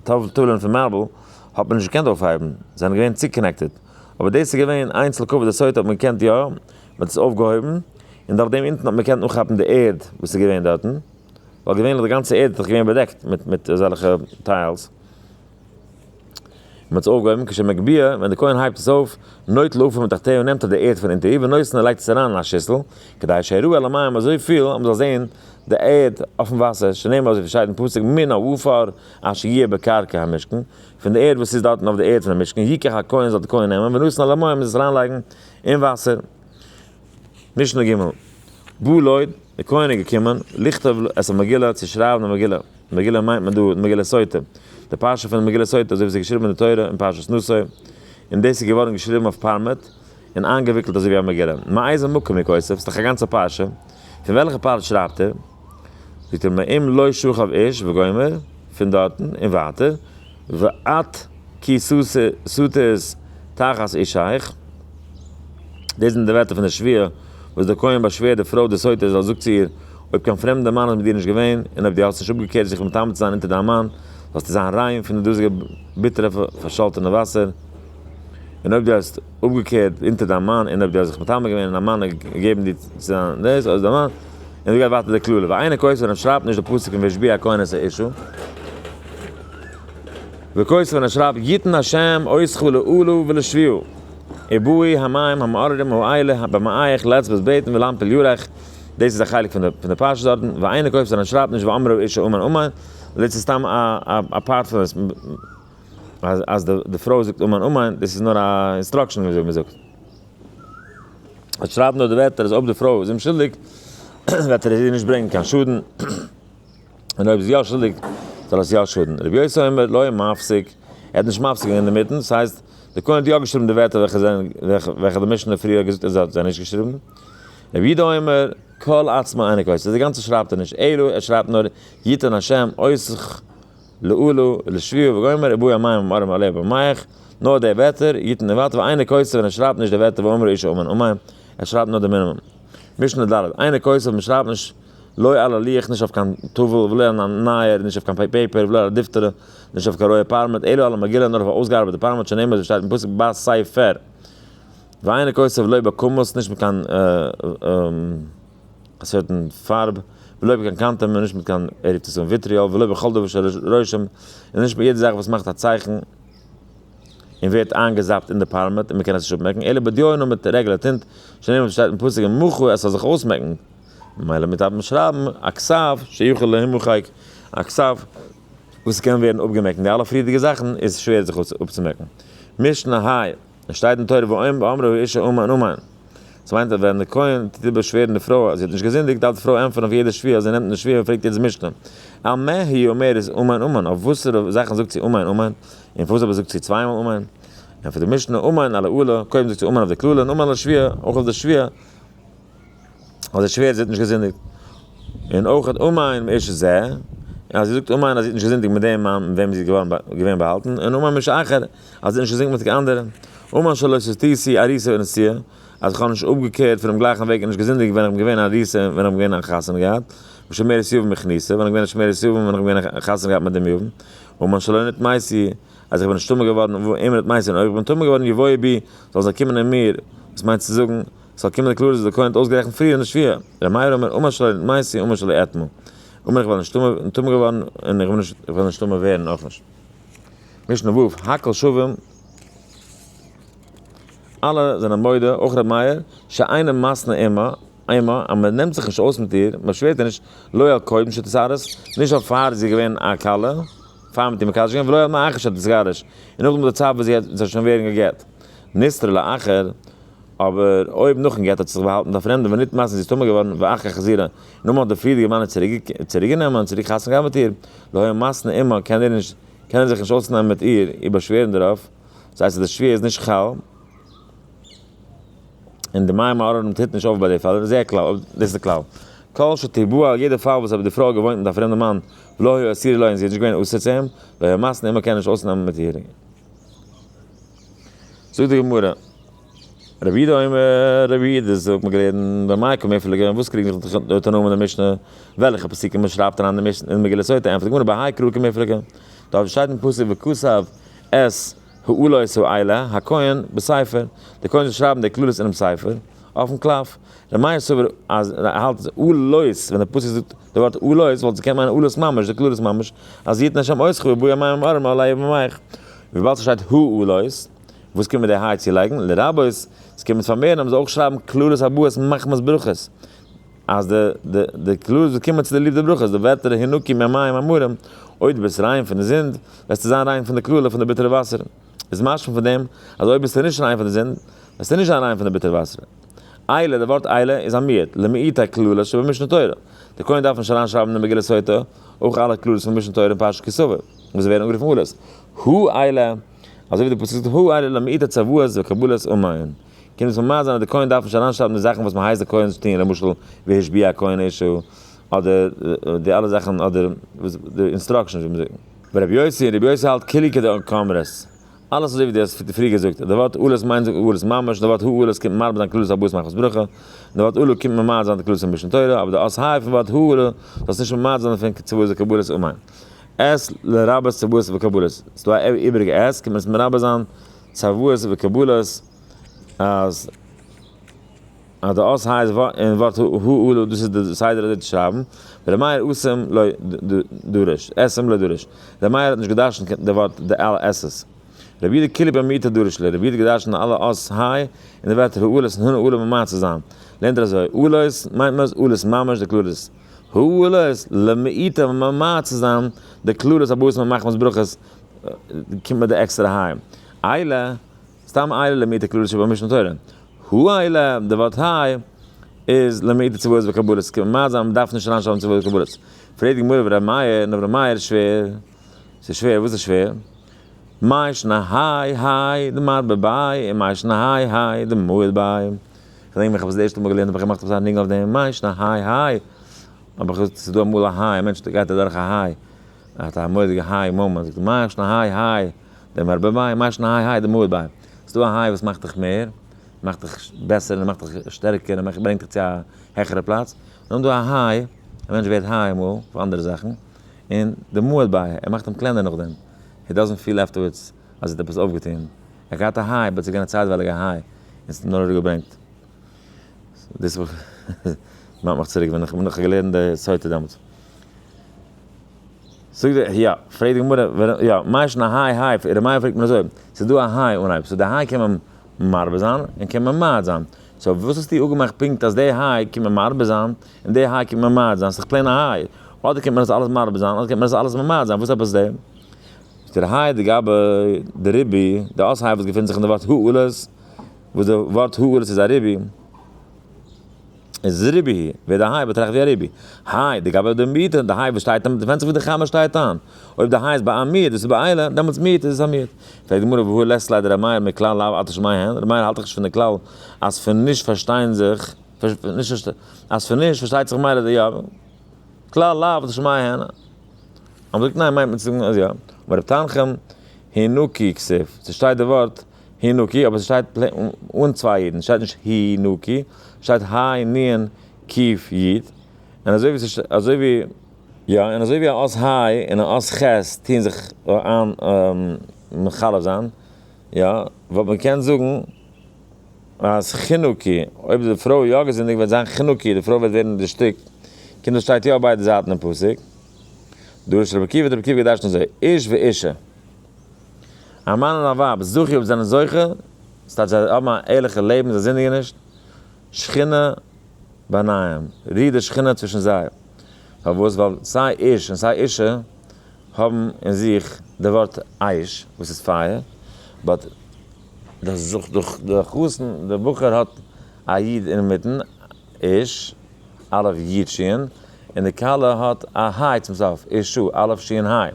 טאוולען פון מארבל, האט מען נישט געקענט אויפהייבן, זיי זענען געווען צוקאנעקטעד, אבער דאס איז געווען איינס לקו ו די סוטה האט מען געקענט יא, מ'האט עס אויפגעהויבן, און דורך דעם אונטן האט מען געקענט אנכאפן די ערד וואס איז געווען דארטן, ווייל געווענליך די גאנצע ערד איז דאך געווען באדעקט מיט מיט אזעלכע טיילס. מען האט עס אויפגעהויבן כש מגביה, ווען די כהן הייבט עס אויף, נוטל עפר מתחתיו נעמט ער די ערד פון אונטער איר ונותן און לייגט עס אריין אין א שיסל, כדי שיראו על המים אזויפיל אז מען זאל זען די ערד אויפן וואסער, שנאמר אזויווי שטייט אין פסוק מן העפר אשר יהיה בקרקע המשכן, פון די ערד וואס איז דארטן אויף די ערד פון המשכן, ייקח הכהן זאל די כהן נעמען ונותן על המים און עס אריינלייגן אין וואסער. משנה ג' בא לויט די כהן איז געקומען לכתוב את המגילה צו שרייבן די מגילה, מגילה מיינט מען דא די מגילה סוטה, די פרשה פון די מגילה סוטה אזוי ווי ס'איז געשריבן אין די תורה אין פרשת נשא, און דאס איז געווארן געשריבן אויף פארמעט און איינגעוויקלט אזוי ווי א מגילה, מאיזה מקום הוא כותב, ס'איז דאך א גאנצע פרשה, פון וועלכע פרט שרייבט ער? זאגט ער מעם לא שוכב איש וגומר פון דארטן און ווייטער ואת כי סוטות תחת אישיך, דאס זענען די ווערטער פון די שוויה וואס דער כהן באשווערט די פרוי די סוטה זאל זאגט צו איר אויב קיין פרעמדער מאן איז מיט דיר נישט געווען און אויב דו האסט נישט אפגעקערט זיך מטמא צו זיין אונטער דיין מאן זאלסטו זיין ריין פון די דאזיגע ביטערע פארשאלטענע וואסער. און אויב דו האסט אפגעקערט אונטער דיין מאן און אויב דו האסט זיך מטמא געווען און דיין מאן האט געגעבן דיר צו זיין דאס אויס דיין מאן און אזוי גייט ווייטער די קללה ואינו כופר און שרייבט נישט די פסוק אין וישביע הכהן את האישה וכופר און שרייבט יתן השם עוזך לעולו ולשביעו עיבוי המים המעוררים האלה הבמאייך לץ בית ביתן ולהמפיל יורך דאס איז א חלק פון די פון די פרשה דארטן ואינו כופר און שרייבט נישט ואמרו איש האומן אמן לץ איז סתם א א פארט פון אז די פרוי זאגט אמן אמן, דאס איז נאר א אינסטראקשען וויאזוי מען זאגט. און שרייב נאר די ווערטער אז אויב די פרוי איז אומשולדיג וועט ער איר נישט ברענגען קיין שאדן, און אויב זי איז יא שולדיג זאל עס יא שאדן. ר' יוסי אומר לא היה מפסיק, ער האט נישט מפסיק געווען אינמיטן, דאס הייסט די כהן האט יא געשריבן די ווערטער וועלכע זענען וועלכע די משנה פריער האט געזאגט אז ער האט זיי נישט געשריבן. ר' יהודה אומר כל עצמו אינו כוסה, די גאנצע שרייבט ער נישט אלא ער שרייבט נאר יתן השם עוז. לאלא, לשביעי וגומר, עיבוי המים עם ארם הלב ומח, נאר דער וועטער, יתן די וואטער, ואינו קוצב און ער שרייבט נישט די וועטער ואומר איש אמן אמן, ער שרייבט נאר די מינימום. משנה ד', אינו קוצב, מען שרייבט נישט לא על הלוח נישט אויף קיין טאוול ולא על הנייער נישט אויף קיין פעיפער ולא על הדפתרה נישט אויף קיין רויע פארמעט אלא על המגילה נאר אויף א אויסגעארבעטע פארמעט שנאמר אזוי שטייט אין פסוק בספר ואינו קוצב לא בכמות נישט מיט קיין א סערטען פארב, ולא בקן קנתם און נישט מיט קיין עריצות און וויטריאל, ולא בכל דבר שרושם און נישט מיט יעדע זאך וואס מאכט א צייכן און ווערט איינגעזאפט אין די פארמעט און מ'קען עס נישט אפמעקן, אלא בדיו נאר מיט רעגולער טינט, שנאמר וואס שטייט אין פסוק און מחו עס זאל זיך אויסמעקן, ממילא מוטב מען שרייבן א כסף שיכול להימחק, א כסף וואס קען ווערן אפגעמעקן, די אלע פריערדיגע זאכן איז שווער זיך אפצומעקן. משנה ה. עס שטייט אין תורה ואם באמרה האישה אמן אמן. דאס מיינט אז ווען די כהן טוט איבער שווערן די פרוי אז זי האט נישט געזינדיגט דארף די פרוי ענטפערן אויף יעדע שפיר אז זי נעמט אין די שפיר און פרעגט יעדעס משנה על מה היא אומרת אמן אמן אויף וואסערע זאכן זאגט זי אמן אמן און פארוואס אבער זאגט זי צוויי מאל אמן ענטפערט די משנה אמן על העולה קודם זאגט זי אמן אויף די קללה און אמן על השפיר אויך אויף די שפיר. אז דער שווער זי האט נישט געזינדיגט, און אויך אן אומאיין מאיש זה, און אז זי זאגט אומאיין אז זי האט נישט געזינדיגט מיט דעם מאן מיט וועם זי איז געווען באהאלטן, און אומאיין מאיש אחר, אז זי האט נישט געזינדיגט מיט קיין אנדערע, אומאיין שלא סטיתי שיא אריסה ונסיעה, אז כ'האב נישט אפגעקערט פונעם גלייכן וועג און נישט געזינדיגט ווען כ'בין געווען אריסה און ווען כ'בין געווען און חתונה געהאט, ושמרת יובל מכניסה, ווען כ'בין געווען שמרת יובל און ווען כ'בין געווען חתונה געהאט מיט דעם יובל, אומאיין שלא נטמאי שיא, אז איך בין נישט טמא געווארן, ואם נטמאי שיא און אויך כ'בין טמא געווארן יבואו בי, זאלן זיי קומען אין מיר, וואס מיינט צו זאגן, ס'זאל קומען די קלארע זיכוי און אויסגערעכנט פריער אין די שביעי. ר' מאיר אומר אמה שלי ניט מעשי אמה שלי אתמול. אומר איך בין נטמא געווארן און איך וועל נישט נטמא ווערן אויך נישט. משנה ו' הכל שווים אלע זענען מודה אויך ר' מאיר שאינו משנא אמה אמה אז מען נעמט זיך נישט אויס מיט איר מען שווערט איר נישט לא על קודם שתתגרש נישט אויף פאר זי איז געווען א כלה פאר מיט איר מקדש געווען ולא על מאחר שתתגרש און נאכדעם די צייט וואס זי וועט זיך שוין ווערן גע'גט. נסתרה לאחר. אבער אויב נאכן גט האט זי זיך באהאלטן מיט א פרעמדע ווען ניט מאסן זי איז טמא געווארן ואח כ חזירה און נאכמאל האט די פריערדיגע מאן איר צוריקגענומען און צוריק חתונה געהאט מיט איר להוי מאסן עמו קען ער נישט קען ער זיך נישט אויסנעמען מיט איר איר באשווערן דערויף דאס הייסט אז די שוויה איז נישט חל און די מים הארערים טוט נישט אויף ביי די פעלער זעה כלל אויב דאס איז די כלל כל שתבוא על ידי פאל וואס אויב די פרוי האט געוואוינט מיט א פרעמדע מאן ולא היה אסיר עליה און זי איז נישט געווען אסור צו אים להוי מאסן עמו קען ער נישט אויסנעמען מיט איר. זאגט די גמרא, רב יהודה אומר, רב יהודה זאגט מיר געלערנט, במאי קא מפלגא, און וואס קריגן זיך די תנאים און די משנה, וועלכע פסוקים מען שרייבט אריין אין מגילת סוטה, ענטפערט די גמרא בהאי קרא כמפלגא, דארט ווי שטייט אין פסוק וכסב את העלות האלה הכהן בספר, די כהן זאל שרייבן די קללות אינעם ספר, אויפן קלף, ר' מאיר סובר אז ער האלט אז עלות, ווען די פסוק זאגט די ווארט עלות, וואלט עס געקענט מיינען עלות ממש, די קללות ממש, אז יתן ה' אויסך וביאה מים ארמה עלי ובמייך. וויבאלד ס'שטייט העלות, וואס קען מען די ה' צולייגן? לרבות, ס'קען מען עס פארמערן אז מ'זאל אויך שרייבן כללות הבאות מחמת ברכות, אז די די די כללות וואס קומען צוליב די ברכות, די ווערטער הנקי מהמים המרים, אויב דו ביסט ריין פון די זינד, וועסטו זיין ריין פון די קללה פון די ביטערע וואסער, איז משמע פון דעם אז אויב ביסטו נישט ריין פון די זינד, וועסטו נישט זיין ריין פון די ביטערע וואסער. עילה, די ווארט עילה איז א מיעוט, למעיט הכללות שבמשנה תורה. די כהן דארף נישט אריינשרייבן אין די מגילת סוטה אויך אלע כללות פון משנה תורה און פרשת כי סבור. וואס זיי ווערן אנגערופן עלות, הא עלה, אזוי ווי די פסוק זאגט הא עלה למעיטה צוואות וקבלות ומעון, קען דאס ממש זיין אז די כהן דארף נישט אריינשרייבן די זאכן וואס מען הייסט די כהן צו טון, למשל והשביע הכהן אישו, אדער די אלע זאכן אדער די אינסטראקשענס. ור' יוסי, ר' יוסי האלט כולי כדעה כאמרת, אלעס אזוי ווי דו האסט פריער געזאגט, די ווארט עלות מיינט עלות ממש, די ווארט הא עלות קומט מרמז זיין כללות הבית מכות ברכה, און די ווארט עלו קומט ממעט זיין די כללות פון משנה תורה, אבער די אות ה' פון ווארט הא עלה זאלסט נישט ממעט זיין דערפון צוואות וקבלות ומעון. עז לרבות צוואות וקבלות, ס'איז דא א איבריגע עז, קען מען עס מרבה זיין, צוואות וקבלות, אז אז די אות ה' איז אין ווארט הוה ל, דאס איז די סדר אזוי צו שרייבן, ור' מאיר אסם לא דורש, אסם לא דורש, ר' מאיר האט נישט געדרשנט די ווארט די אלע אות ס, ר' יודא קליפ א מיעוטא דורש ל, ר' יודא האט געדרשנט אלע אות ה' אין די ווערטער הוה ל און הנה עלול ממעט צו זיין, לערנט ער אזוי, עלות מיינט מען עס עלות ממש די כללות. הוא עלה עס למעיטה און ממעט צו זיין די כללות הבאות מיט מחמת ברכות קומט מיט די עקסטערע ה' עלה, סתם עלה למעיטה כללות שבו משנה תורה, הוא עלה די ווארט ה' איז למעיטה צוואות וקבלות קומט ממעט זיין מען דארף נישט אריינשרייבן צוואות וקבלות, פרעגט די גמרא אויף ר' מאיר און אויף ר' מאיר שווער, ס'איז שווער? וואס איז שווער? מאי שנא האי האי דמד בבאי און מאי שנא האי האי דמועד באי. כ'דענק מיך, כ'האב עס די ערשטע מאל געלערנט האב איך געמאכט אזא ניגון אויף דעם מיישן, א היי היי, האב איך געזאגט, ס'איז דא אמאל א היי, א מענטש גייט אדורך א היי, ער האט א מורא'דיגע היי מאמענט, זאגט ער, מיישן א היי היי, דעם ארבע ביין, מיישן א היי היי, דעם אויב ביין. ס'דא א היי וואס מאכט דיך מער, מאכט דיך בעסער און מאכט דיך שטערקער און ברענגט דיך צו א העכערע פלאץ, און נאכדעם דא א היי, א מענטש ווערט היי אמאל, אויף אנדערע זאכן, און דעם אויב ביין, ער מאכט אים קלענער נאכדעם, הי דאזענט פיל עפטערווארדס. אז ער האט עפעס אויפגעטון, ער האט געהאט א היי, אבער עס איז געווען א צייטווייליגע היי, און עס האט אים נאר אראפגעברענגט. דאס וואס מיינט מיך צוריק ווען איך האב נאך געלערנט די סוטה דעמאלטס. זאגט די, יא, פרעגט די גמרא, ווען, יא, מה ישנה היי היי, אין רמ א פרעגט מען אזוי, ס'איז דא א היי אנהייב, סאו די היי קען מען מרבה זיין, און קען מען מעיד זיין, סאו וואס האסטו אפגעמאכט פונקט אז די היי קען מען מרבה זיין, און די היי קען מען מעיד זיין, ס'איז דאך פלעין א היי, אדער קען מען עס אלעס מרבה זיין, אדער קען מען עס אלעס ממעיד זיין, וואס עפעס די. דער היי די גבאי די רבי די אויס היי וואס געפינט זיך אין די ווארט העלות וואס די ווארט העלות איז א רבי איז רבי היי ווערט די היי באטראכט ווי א רבי היי די גבאי די מיעוט די היי וואס שטייט און דערפענט זיך ווי די חמה שטייט אן אויב די היי איז ביי א מיעוט דאס איז ביי איילער דעמאלטס מיעוט איז עס א מיעוט פרעגט די גמרא והוא לסת ליה דרבי מאיר מכלל לאו אתה שומע הן רבי מאיר האלט דאך נישט פון די כלל אז פון נישט פארשטיין זיך אז פון נישט פארשטייט זיך ממילא יא כלל לאו דשמיא הנה. האבן געזאגט ניין מיינט מען צו זאגן אז יא. אמר ר' תנחום הינוקי כסוף, ס'שטייט די ווארט הינוקי אבער ס'שטייט אן צוויי אידן, ס'שטייט נישט הי נוקי, ס'שטייט היי נין קיף יד, און אזוי ווי ס'שט אזוי ווי יא און אזוי ווי א אות היי און א אות חית טוען זיך איין מחלף זיין יא וואלט מען געקענט זאגן אז חנוכה, אויב איז די פרוי יא געזינדיגט וועט זיין חנוכה, די פרוי וועט ווערן דערשטיקט, קינדער שטייט יא אויף ביידע זייטן אין פסוק, דרשת רבי עקיבא האט רבי עקיבא געדרשנט אזוי, איש ואישה, א מאן און א ווייב, זכי אויב זיי זענען זוכה, דאס טייטש זיי האבן א ערליכע לעבן, זיי זינדיגן נישט, שכינה ביניהם, רוהט די שכינה צווישן זיי, פארוואס? ווייל סיי איש און סיי אישה האבן אין זיך די ווארט אש וואס איז פייער, באט. דאס זאגט דאך דער חתן, דער בחור האט א יוד אינמיטן, איש, א' יוד שי'ן, און די כלה האט א הי' צום סוף, אישא, א' שי'ן הי'.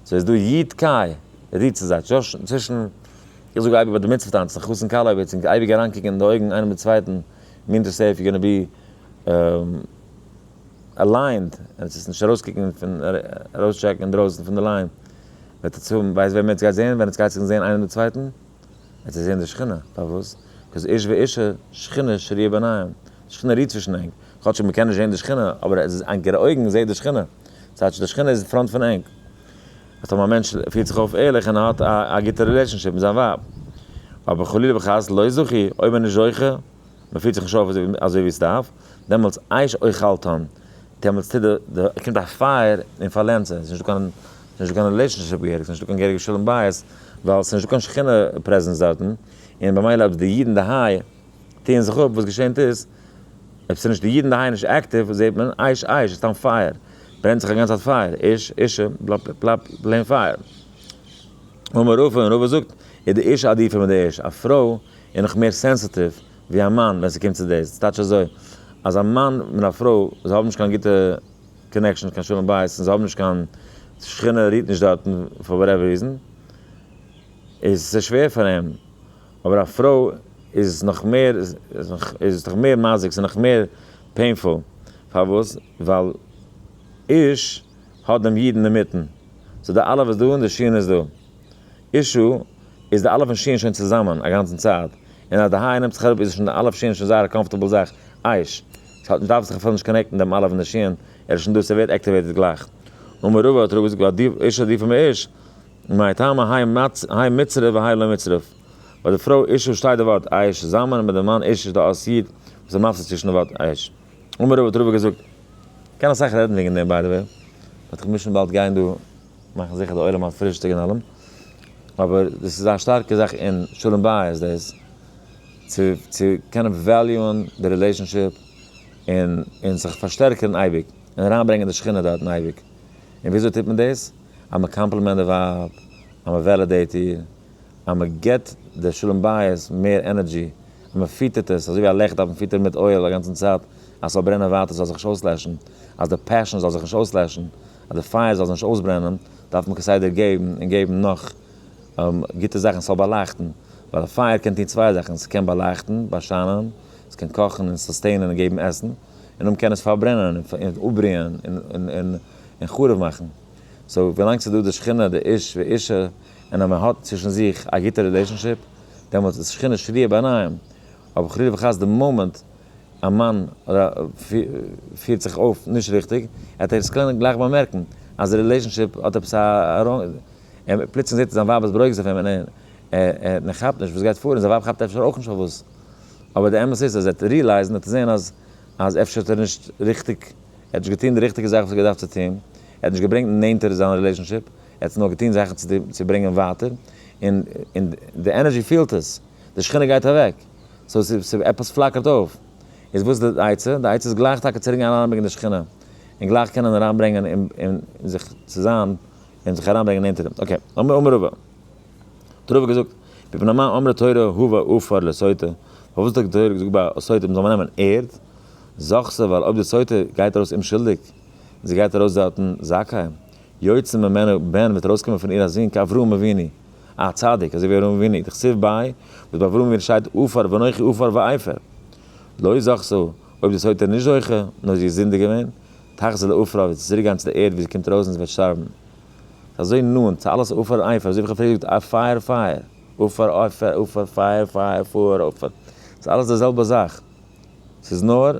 סאו איז דא יוד קיי רי צו זיי, צווישן, איך זאג אייביג ביי די מצוה טאנצן, חתן כלה אויב אצינד אייביג אריינקוקן אין די אויגן איינעם די צווייטן מינט דאס איף יו גאנא בי אליינד, עס וועט נישט ארויסקוקן פון ארויסטשעקן אינדרויסן פון די ליין. וועט עטס האבן, ווייסט וועם עטס גייט זעהן ווען עטס גייט זיך זעהן איינער די צווייטן? עטס וועט זעהן די שכינה, פארוואס? קאוז איש ואישה שכינה שריה ביניהם, די שכינה רוהט צווישן ענק, כאטשיג מ'קען נישט זעהן די שכינה, אבער ענקערע אויגן זעהט די שכינה, צייט די שכינה איז אין פראנט פון ענק. אז אויב א מענטש פירט זיך אויף ערליך און ער האט א גוטע רילעשאנשיפ מיט זיין ווייב, אבער חלילה וחס לא זכי, אויב ער איז נישט זוכה, מען פירט זיך נישט אויף אזוי ווי עס דארף, דעמאלטס עייש אוכלתן, דעמאלטס טוט די די קומט א פייער און פארלענדט זיי, עס איז נישטא קיין עס איז נישטא קיין רילעישאנשיפ געהעריג, עס איז נישטא קיין געהעריגע שלום בית, ווייל עס איז נישטא קיין שכינה פרעזענס דארטן, און במילא אויב די אידן דערהיי טוען זיך אפ, וואס געשענט איז, אויב עס איז נישט די אידן דערהיי נישט עקטיוו, זעט מען, עייש עייש, עס איז סתם פייער, ברענט זיך אגאנצע צייט פייער, איש אישה, בלאפ בלאפ בלאפ, פלעין פייער. אמר רופא, און רופא זאגט, איז די אישה עדיפה מיט די איש, א פרוי און נאך מער סענסעטיוו ווי א מאן ווען ס'קומט צו דאס, ס'טייטש אזוי אז א מאן און א פרוי זיי האבן נישט קיין גוטע קאנעקשאנס קיין שלום בית און זיי האבן נישט קיין שכינה רוהט נישט דארטן פאר וואטעווער ריזען איז עס שווער פאר אים אבער א פרוי איז נאך מער איז נאך מער מזיק ס'איז נאך מער פעינפול פארוואס ווייל איש האט דעם איד אינדערמיטן סאו די אלף איז דא און די שין איז דא. אישו, איז די אלף און שיען שוין צוזאמען א גאנצן צייט, און אז די היי נעמט זיך אראפ איז שוין די אלף שיען שוין זייער א קאמפארטעבל זאך, אייש, ס'האט נישט דארף זיך אפילו נישט קאנעקטן דעם אלף און די שיען, ער איז שוין דא ס'ווערט עקטיוועיטעד גלייך. אמר רבא האט רבא געזאגט ווייל די אישו עדיפה מאיש, מאי טעמא היי מצ היי מצרף והיי לא מצרף, ביי די פרוי אישו שטייט די ווארט אייש צוזאמען און ביי די מאן איש איז דא אות יוד וואס איז מפסיק צווישן די ווארט אייש. אמר רבא האט רבא געזאגט. מ'קען אסאך רעדן וועגן דעם ביי די וועי, באט כ'מוז שוין באלד גיין דא. מאכן זיכער די עולם האט פרישטאג און אלעם, אבער דאס איז א שטארקע זאך אין שלום בית דאס, צו צו קענען וועליוען די רילעישאנשיפ, און און זיך פארשטערקערן אייביג, און אריינברענגען די שכינה דארטן אייביג, און וויאזוי טוט מען דאס? אז מען קאמפלימענט די ווייב, אז מען וועלידעיט איר, אז מען גיבט די שלום בית מער ענערדזשי, אז מען פיטערט עס, אזוי ווי א לעכט דארף מען פיטערן מיט אויל א גאנצן צייט, אז ס'זאל ברענען ווייטער, ס'זאל זיך נישט אויסלעשן, אז די פעשאן זאל זיך נישט אויסלעשן, אז די פייער זאל זיך נישט אויסברענען דארף מען כסדר געבן און געבן נאך גוטע זאכן ס'זאל באלייכטן, ווייל א פייער קען טון צוויי זאכן, ס'קען באלייכטן, באשיינען, ס'קען קאכן און סוסטעינען און געבן עסן, און אויבן קען עס פארברענען און אפבריען און חרוב מאכן. סאו ווילאנג ס'איז דא די שכינה, די איש ואישה, און אז מען האט צווישן זיך א גוטע רילעישאנשיפ, דעמאלטס איז שכינה שריה ביניהם, אבער חלילה וחס די מאמענט א מאן פירט זיך אויף נישט ריכטיג, עט ער עס קענען גלייך באמערקן אז די רילעישאנשיפ האט עפעס א ראנג, פלוצלינג זעט ער זיין ווייב איז ברוגז אויף אים און ער כאפט נישט וואס גייט פאר און זיין ווייב כאפט אפשר אויך נישט פארוואס, אבער די אמת איז אז ער עט ריעלייזן, ער עט זען אז אז אפשר האט ער נישט ריכטיג, ער האט נישט געטון די ריכטיגע זאך וואס ער האט געדארפט צו טון, ער האט נישט געברענגט נענטער זיין רילעישאנשיפ, ער האט נאר געטון זאכן צו ברענגען ווייטער, און די ענערזשי פעלט עס, די שכינה גייט אוועק. סאו ס'איז עפעס פלאקערט אויף. איז וואס איז די עצה? די עצה איז גלייך טאקע צוריק גיין אריינברענגען די שכינה, און גלייך קענען אריינברענגען און זיך צו זיין און זיך אריינברענגען נענטער דעם. אקעי, אמר אמר רבא, האט רבא געזאגט, מפני מה אמרה תורה הוה עפר לסוטה, פארוואס האט די תורה געזאגט ביי א סוטה מ'זאל נעמען ערד, זכ ס ווייל אויב די סוטה גייט ארויס אומשולדיג, און זי גייט ארויס דארטן זכאי, יוצא ממנה בן וועט ארויסקומען פון איר א זון כאברהם אבינו, א צדיק אזוי ווי אברהם אבינו דכתיב ביי וואס ביי אברהם אבינו שטייט עפר ואנכי עפר ועפר לא זכסו אויב דאס האט ער נישט זוכה נאר זי איז זינדיג געווען תחזור לעפרה וועט זי צוריק גיין צו די ערד ווי זי קומט ארויס און זי וועט שטארבן ס'איז אזוי נאנט צו אלעס עפר עפר אזוי ווי איך האב פריער געזאגט פייער פייער עפר עפר עפר פייער פייער פאהר עפר ס'איז אלעס די זעלבע זאך ס'איז נאר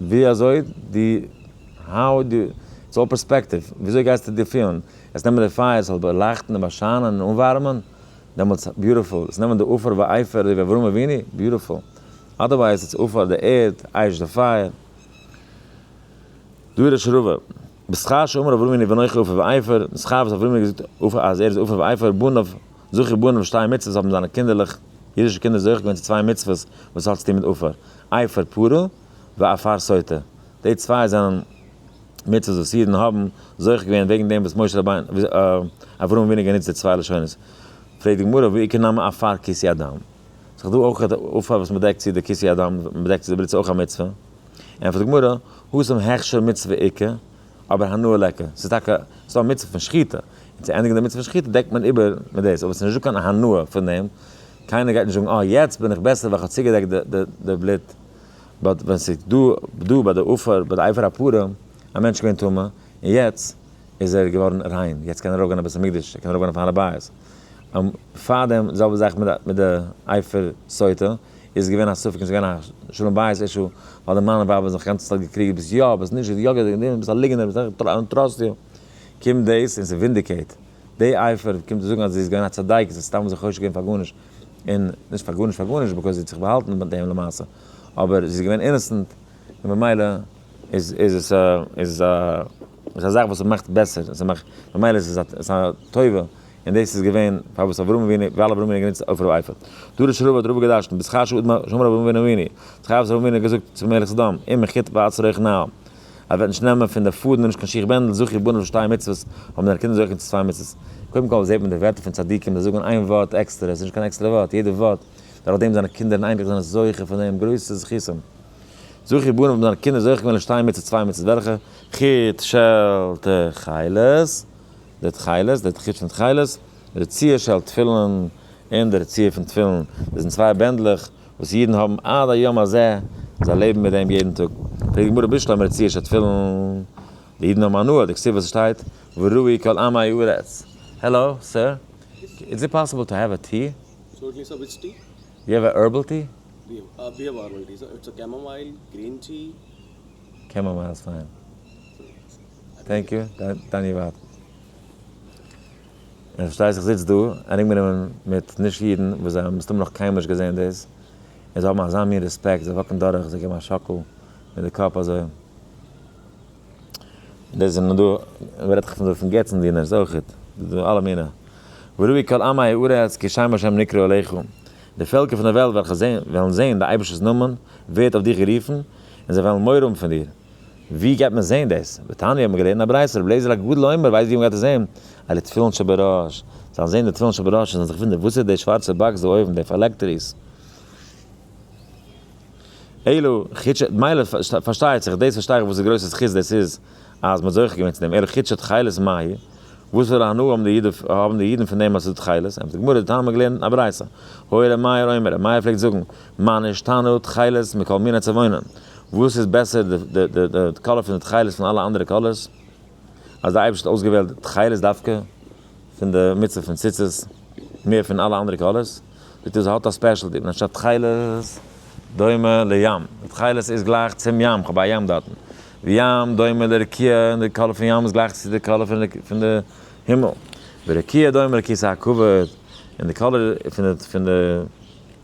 ווי אזוי די האו די איטס אלל פערספעקטיוו, ווי אזוי גייסטו דיר פילן? עס נעמען די פייער, עס זאל באלייכטן און באשיינען און אנווארעמען, דעמאלטס ביוטיפול, עס נעמען די עפר ואייפער אזוי ווי אברהם אבינו, ביוטיפול, אדערווייז איטס עפר די ערד, אייש די פייער. דא איז די שרווע, בשכר שאמר אברהם אבינו ואנכי עפר ואייפער, די שכר וואס אברהם אבינו האט געזאגט אז ער איז עפר ואייפער, בניו. זכר בנים שתי מצוות האבן זיינע קינדערלעך, אידישע קינדער זוכה געווען צו צוויי מצוות וואס האט צו טון מיט עפר, עפר פרה ועפר סוטה, די צוויי זענען מצוות וואס אידן האבן זוכה געווען וועגן דעם וואס משה רבינו, אברהם אבינו גענוצט די צוויי לשונות, פרעגט די גמרא ועיקר נמי עפר כיסי אדם, ס'איז דא אויך עפר וואס מ'דעקט צו די כיסי אדם, מ'בעדעקט צו די בריצה אויך א מצוה, ענטפערט די גמרא, האסם הכשר מצוה עיקר. אבער הנאה לעקער, ס'איז טאקע ס'דא א מצוה פון שחיטה, און צו ענדיגן די מצוה פון שחיטה דעקט מען איבער מיט דאס, אבער ס'נישט דא קיין הנאה פון דעם, קיינער גייט נישט זאגן אה יעצט בין איך בעסער ווייל כ'האב צוגעדעקט די בלוט, באט ווען ס'איז דא דא ביי די עופר ביי די עופר הפרה, א מענטש געווען טמא און יעצט איז ער געווארן ריין, יעצט קען ער ארויפגיין אין בית המקדש, ער קען ארויפגיין אויפן הר הבית, און פארדעם די זעלבע זאך מיט די עופר סוטה, איז געווען א ספק און ס'געווען א שלום בית אישו, ווייל די מאן און ווייב האבן זיך גאנצע צייט געקריגעט ביסט יא ביסט נישט, יא געדענק דעם, ביסט א ליגענער ביסט איך דאונט טראסט יו, קומט דאס און ס'ווינדיקעיט די אייפער, קומט צו זאגן אז זי איז געווען א צדיקת זי האט סתם זיך חושד געווען פאר גארנישט, און נישט פאר גארנישט פאר גארנישט ביקאוז זי האט זיך באהאלטן מיט דעם למעשה, אבער זי איז געווען אינעסענט און במילא איז איז עס א איז עס א איז א זאך וואס ס'מאכט בעסער, ממילא איז עס א טובה. און דאס איז געווען פארוואס אברהם אבינו, ווייל אברהם אבינו האט גענוצט עופר ואיפר. דא ר' רובה האט רובה געדרש'נט, בשכר שאול דמר שאמר אברהם אבינו אביני, צו חייו וואס אברהם אבינו האט געזאגט צום מלך סדום, אם מחית ועץ רעיך נאה, אז ער וועט נישט נעמען פון די פאדן און נישט קיין שיך בענדל, זכי בניו לשתי מצוות, האבן זיינע קינדער זוכה צו צוויי מצוות. קודם כל זעט מען די ווערטער פון צדיקים, זיי זאגן איין ווארט עקסטער, עס איז נישט קיין עקסטערע ווארט, יעדע ווארט, דורך דעם זיינע קינדער און אייניקלעך זענען זוכה פון דעם, גרויסע זכותים. זכי בניו האבן זיינע קינדער זוכה געווען לשתי מצוות צוויי מצוות וועלכע? חוט, שעל, ת, חלות. די תכלת, די תכלית פון תכלת, רצועה של תפילין, און די רצועה פון תפילין, דאס זענען צוויי בענדלעך וואס אידן האבן עד היום הזה, זיי לעבן מיט דעם יעדן טאג. פרעגט די גמרא בשלום רצועה של תפילין, די אידן האבן הנאה, די כתובה שטייט, וראי כל עמי הארץ. העלאו סער, איז איט פאסיבל טו העוו א טי? סארט אוו וויטש טי?
דו העוו א הערבעל טי? די
העוו א הערבעל טי, סאו
איטס א קעמאמייל, גרין טי? קעמאמייל
איז פיין. טענק יו, דני ווארט. און פארשטיי זיך זיצט דא ארומגענומען מיט נישט אידן וואס זיי האבן מסתמא נאך קיינמאל נישט געזען דאס, און זיי האבן אזא מין רעספעקט, זיי וואקן דורך, זיי געבן א שאקל מיט די קאפ אזוי. דאס זענען דא, ווער רעדט נאך פון געצנדינערס אויכעט, ס'איז דא אלע מיני. וראי כל עמי הארץ כי שם השם נקרא אליך, די פעלקער פון דער וועלט וועלכע וועלן זען די אייבערשטער'ס נאמען ווערט אויף דיך גערופן, און זיי וועלן מורא האבן פון דיר, ווי גייט מען זעהן דאס? בתניא האט מען געלערנט א ברייתא, רבי אליעזר הגדול אומר, ווייסט ווי מ'גייט עס זעהן? אלע תפילין שבראש, זאלן זעהן די תפילין שבראש און זאלן זיך וואונדערן וואס איז די שווארצע באקס דא אויבן די פאלעקטריס? אלא חידשא מילא פארשטייט זיך דאס פארשטיי איך וואס די גרויסע זכות דאס איז אז מ'האט זוכה געווען צו דעם, אלא חידשא תכלת מאי, וואס פאר א הנאה האבן די אידן האבן די אידן פון דעם אז עס איז דא תכלת, ענטפערט די גמרא, די תנא האט מען געלערנט א ברייתא, הוי ר' מאיר אומר, ר' מאיר פלעגט זאגן, מה נשתנו תכלת מכל מיני צבעונן. וואס איז בעסער די קאלער פון די תכלת פון אלע אנדערע קאלערס? אז די אייבערשטער האט אויסגעוועלט די תכלת דווקא פון די מצוה פון ציצית מער פון אלע אנדערע קאלערס, זאגט ער זי האט א ספעשל דין אנשטאט תכלת דומה לים, די תכלת איז גלייך צום ים, איך האב א ים דארטן, וים דומה לרקיע, און די קאלער פון ים איז גלייך צו די קאלער פון די הימל, ורקיע דומה לכסא הכבוד, און די קאלער פון די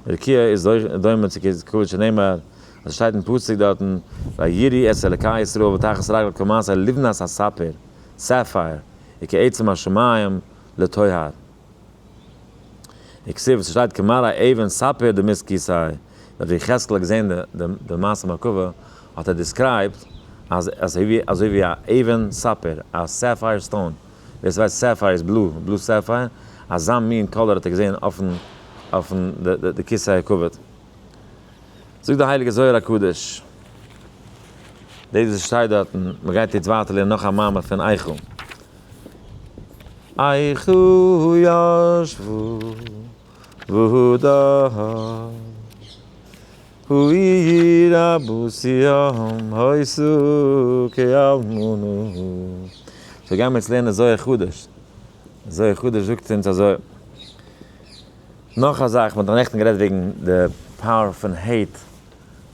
רקיע איז דומה צו כבוד שנאמר און ס'שטייט אין פסוק דארטן, ויראי את אלקי ישראל ותחת רגליו כמעשה לבנת הספיר, Sapphire, וכעצם השמים לטוהר. וכסדר וואס ס'שטייט כמראה אבן ספיר דמית כיסאי, ווען ר' יחזקאל האט געזען די מעשה מרכבה, האט ער דיסקרייבט אז אזוי ווי א אבן ספיר, א סעפייער סטאון, ווער ס'ווייסט סעפייער איז בלו, בלו סעפייער, אזא מין קאלער האט ער געזען אויפן די כיסא הכבוד. זאגט די הייליגע זוהר הקדוש, דאס וואס שטייט דארטן, מען גייט יעצט ווייטער לערנען נאך א מאמר פון איכה, איכה ישבו והודו העיר אבותיהם העשו כאלמנה, סאו גיימער יעצט לערנען זוהר הקדוש, זוהר הקדוש זאגט אונז אזוי. נאך א זאך, מען האט נעכטן גערעדט וועגן די פאוער פון העיט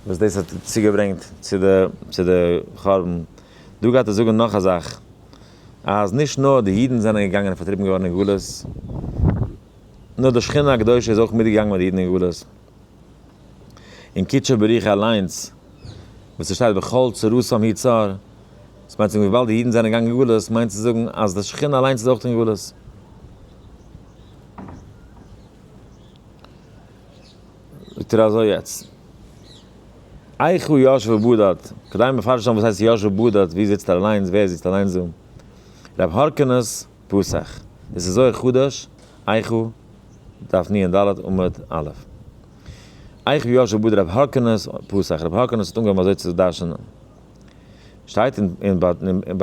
וואס דאס האט צוגעברענגט צו די צו די חורבן, דא גייט ער זאגן נאך א זאך, אז נישט נאר די אידן זענען געגאנגען און פארטריבן געווארן אין גלות, נאר די שכינה הקדושה איז אויך מיטגעגאנגען מיט די אידן אין גלות. אין קידשא בריך אליינס וואס עס שטייט בכל צרתם היא צר, דאס מיינט צו זאגן וויבאלד די אידן זענען געגאנגען אין גלות מיינט צו זאגן אז די שכינה אליינס איז אויך אין גלות. זאגט ער אזוי יעצט. איכה ישבה בדד, כדי מפרש זיין וואס הייסט ישבה בדד, ווי זיצט ער אליינס, ווער זיצט אליינס דא? רב הורקנוס פסח, דאס איז זוהר חדש, איכה דף נ ד עמוד א'. איכה ישבה בדד רב הורקנוס פסח, רב הורקנוס האט אנגעהויבן אזוי צו דרשנ'ען. שטייט אין ביי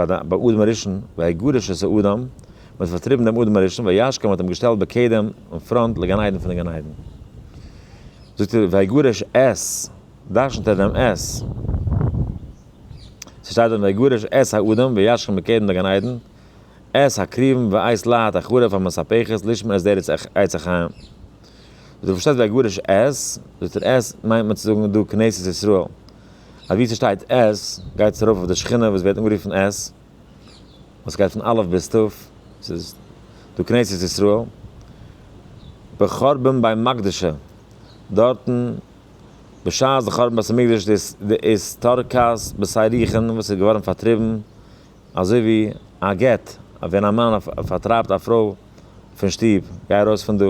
אדם הראשון, ויגרש את האדם, מען האט פארטריבן דעם אדם הראשון, וישכם מען האט אים געשטעלט בקדם, אין פראנט, לגן עדן פונעם גן עדן. זאגט ער ויגרש את, דרשנ'ט ער דעם את. ס'שטייט דארט ויגרש את האדם וישכם בקדם לגן עדן, את הקריבן ואת להט החרב המספחת לשמור את דרך עץ החיים. זאגט ער פארשטייט זיך ויגרש את, זאגט ער את מיינט מען צו זאגן דא כנסת ישראל. אז ווי ס'שטייט עז, גייט עס ארויף אויף די שכינה וואס ווערט אנגערופן עז, וואס גייט פון אלף ביז תיו, ס'איז דא כנסת ישראל, בחורבן בית מקדשו, דארטן בשעת די חורבן בית המקדש איז די איז תרכז בשר יחין וואס איז געווארן פארטריבן, אזוי ווי א גט ווען א מאן פארטרייבט א פרוי פון שטוב, גיי ארויס פון דא.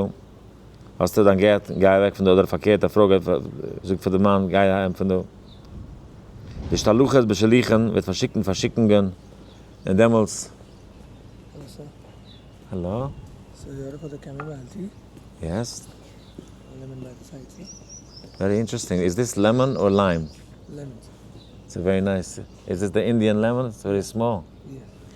האסטו דיין גט, גיי אוועק פון דא, אדער פארקערט א פרוי גייט זאגט פאר די מאן גיי אהיים פון דא. די שלוחת בשליחין וועט פארשיקן פארשיקונגען און דעמאלטס.
האלא? יעס. ווערי אינטערעסטינג,
איז דיס לעמאן אר ליים? לעמאן.
ס'איז ווערי
נייס, איז עס די אינדיען לעמאן? ס'איז ווערי סמאל.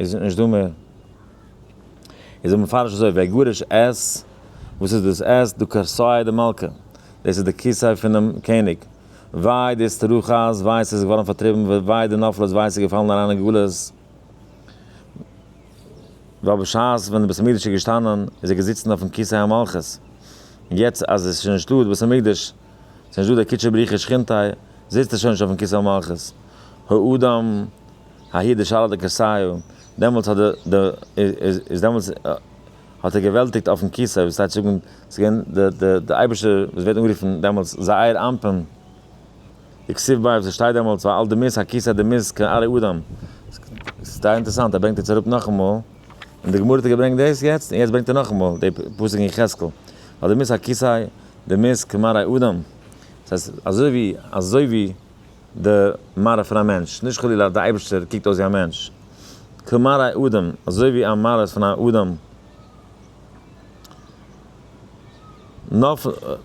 איז נישט דא מער. איז ער מפרש אזוי, ויגרש את, וואס איז דאס את? דו כרסי דמלכא, דאס איז די כיסוי פונעם קעניג, וויי די אסתרחת, וויי עס איז געווארן פארטריבן, וויי די נופלות, וויי עס איז געפאלן אריין אין גלות, ווייל בשעת ווען די בית המקדש איז געשטאנען איז ער געזיצן אויפן כיסא המלכות, און יעצט אז עס איז שוין נישטא די בית המקדש, עס איז נישטא דער קודשא בריך הוא שכינתיה, זיצט ער שוין נישט אויפן כיסא המלכות, האדם האי די שאלה די כסיו, דעמאלטס האט די די איז דעמאלטס האט ער געוועלטיגט אויפן כסא, וואס טייטש זאגן ס'איז געווען די די די אייבערשטער וואס ווערט אנגערופן דעמאלטס זעיר אנפין די כסיו ביי וואס שטייט דעמאלטס ועל די מיס הכסא די מיס כעין ארי אדם, ס'איז זייער אינטערעסאנט ער ברענגט עס אראפ נאכאמאל, און די גמרא האט געברענגט דאס יעצט, און יעצט ברענגט ער נאכאמאל די פסוק אין יחזקאל ועל די מיס הכסא די מיס כעין ארי אדם, ס'הייסט אזוי ווי אזוי ווי. די מראה פון א מענטש, נישט חלילה אז די אייבערשטער קוקט אויס ווי א מענטש, כמראה אדם, אזוי ווי א מראה פון א אדם,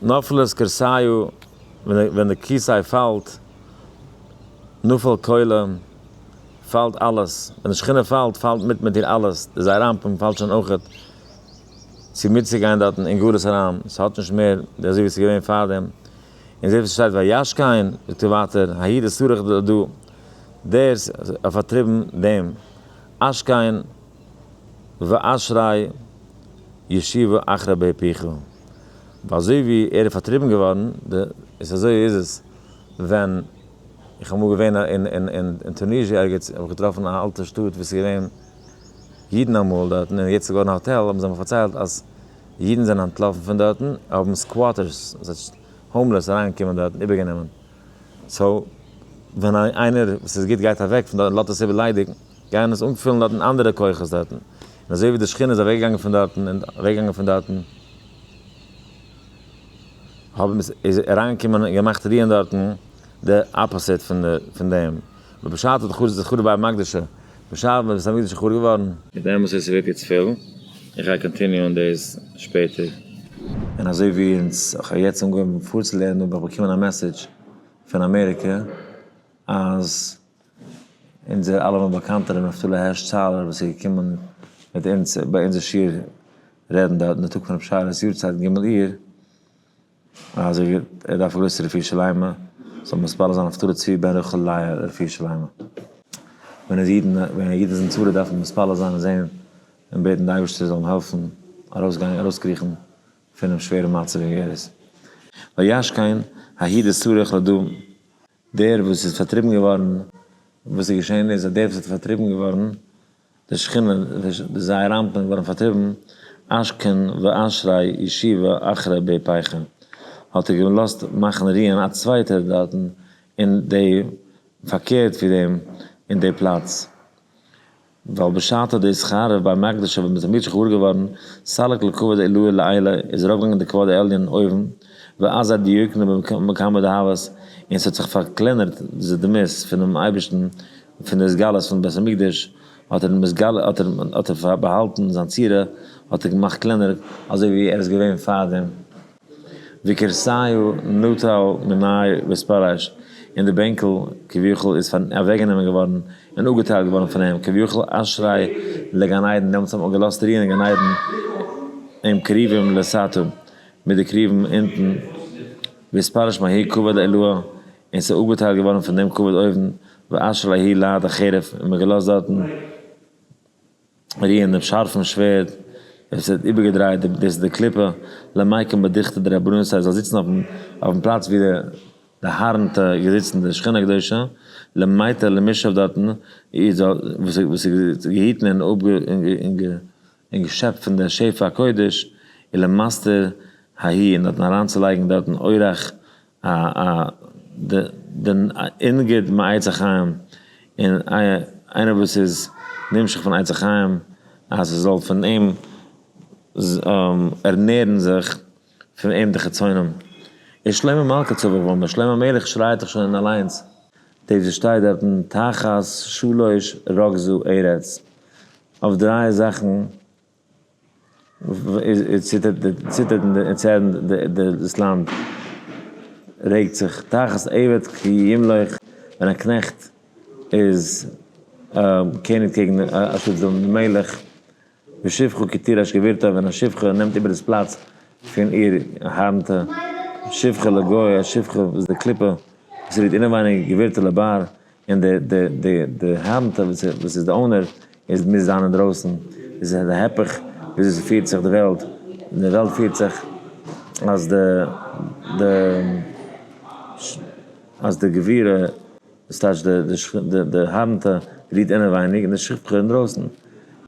נופלת כרסיו, ווען די כיסוי פאלט, נופל כולו, פאלט אלעס, ווען די שכינה פאלט, פאלט מיט מיט איר אלעס, די זעיר אנפין פאלט שוין אויכעט, צו מיטצוגיין דארטן אין גלות אריין, ס'האט נישט מער די אזוי ווי ס'איז געווען פארדעם, און זעט וואס שטייט וישק העם, זאגט ער ווייטער האי ד סרח ד דא, דער האט פארטריבן דעם אשק העם, ואשרי ישיבו אחרי באר פיך, ווייל אזוי ווי ער איז פארטריבן געווארן, ד איז אזוי איז עס ווען, איך האב אמאל געווען אין טוניזשע ערגעץ האב איך געטראפן א אלטע שטאט וואס איז געווען אידן אמאל דארטן און יעצט איז געווארן א האטעל האבן זיי מיר פארציילט אז, אידן זענען אנטלאפן פון דארטן, האבן סקוואטערס, ס'הייסט האומלעס אריינגעקומען דארט און איבערגענומען. סאו ווען איינער וואס איז גוט גייט אוועק פון דארט און לאזט עס איבער ליידיג, גייען עס אנפילן דארטן אנדערע כוחות דארטן. און אזוי ווי די שכינה איז אוועקגעגאנגען פון דארטן און אוועקגעגאנגען פון דארטן, האבן עס איז אריינגעקומען און געמאכט רוען דארטן די אפאסיט פון דעם. בפשט האט די חורבן בית המקדש בשעת מען איז תמיד שיכור געווארן. מיט דעם וואס עס ווערט יעצט פיל. איך גיי קאנטיניוען דאס שפעטער. און אזוי ווי אונז, איך האב יעצט אנגעהויבן פארצולערנען האב איך באקומען א מעסעדזש פון אמעריקע אז אונזער אלעמען באקאנטע ר' נפתלי הערש צאלער וואס איז געקומען מיט אונז ביי אונזער שיעור רעדן דארט אין די טאג פון ר' שרה'ס יארצייט ג' אייר, אז ער דארף א גרויסע רפואה שלימה, זאל מען מתפלל זיין אויף תרא צבי בן ר' חלאי לרפואה שלימה. ווען איז אידן ווען א איד איז אין צרה דארף מען מתפלל זיין און זען און בעטן די אייבערשטער זאל אים העלפן ארויסגיין ארויסקריכן פונעם שווערן מצב ווי ער איז. וישכון האי דצריך לדון, דער וואס איז פארטריבן געווארן, וואס איז געשען איז אז דער וואס איז פארטריבן געווארן, די שכינה וועש די זייער אנטנאנג ווארום פארטריבן אש כנ ו אשרי ישיבה אחרי ב פייכע האט ער געלאזט מאכן רוען א צווייטער דארטן אין די פארקערט ווי דעם אין די פלאץ ווייל בשעתו דאס חרב בית מקדשו ווען מען איז מוצ'ש געוואר געווארן סלק לו כבוד עילאה לעילאה איז ארויף געגאנגען די כבוד העליון אויבן ואזא דיוקנו במקום דהאבות און ס'האט זיך פארקלענערט די דמות פונעם אייבערשטן פון די התגלות פון בית המקדש האט ער מתגלה האט ער האט ער באהאלטן זיין צורה האט ער געמאכט קלענער אזוי ווי ער איז געווען פאר דעם וכרסיו נוטל מנאי וספרש און די בענקל כביכול איז פאר אוועק גענומען געווארן און אפגעטיילט געווארן פון אים כביכול אשרי לגן עדן דעמאלטס האט מען געלאזט רוען אין גן עדן עם קרובים לסתום מיט די קרובים אונטן וספרש מהאי כבוד עילאה. און ס'איז אפגעטיילט געווארן פון דעם כבוד אויבן ואשר ל הי' לייד א חרב, און מ'האט געלאזט דארטן רוען דעם שארפן שווערד, ווען ס'האט איבערגעדרייט דעם דאס איז די קליפה, למקום בדחתא דרבנן, ס'הייסט זאל זיצן אויפן אויפן פלאץ ווי די די הארנטע איז געזיצן די שכינה הקדושה, למיתר למי שישב דארטן, איד זאל וואס איז וואס איז געהיטן און אפ און געשעפט פון די שפע הקודש, און למסתר ההיא און דארטן אריינצולייגן דארטן אורח א א ד ד אינגערט מיט עצי חיים און איינער וואס איז נמשך פון עצי חיים אז עס זאל פון אים ערנערן זיך פון אים די חצונים איז שלמה מלכה צבא ואומר שלמה המלך שרייעט דאך שוין אליינס דאס וואס שטייט דארטן תחת שלוש רגזו ארץ אויף דריי זאכן. דאס לאנד רעגט זיך תחת עבד כי ימלוך, ווען א קנעכט איז קעניג קעגן א שטאט זאל די מלך ושפחה כי תירש גבירתה, ווען א שפחה נעמט איבער דאס פלאץ פון איר הארנטע, שפחה לגוי, א שפחה וואס די קליפה וואס רוהט אינעווייניג גבירתה לבר, און די די די די האנט וואס וואס איז די אונער איז מוז זיין אינדרויסן, איז די היפך ווי אזוי ס'פירט זיך די וועלט, די וועלט פירט זיך אז די די אז די גבורה וואס טייטש די די שכ די די האנט רוהט אינעווייניג און די שכבכ אינדרויסן,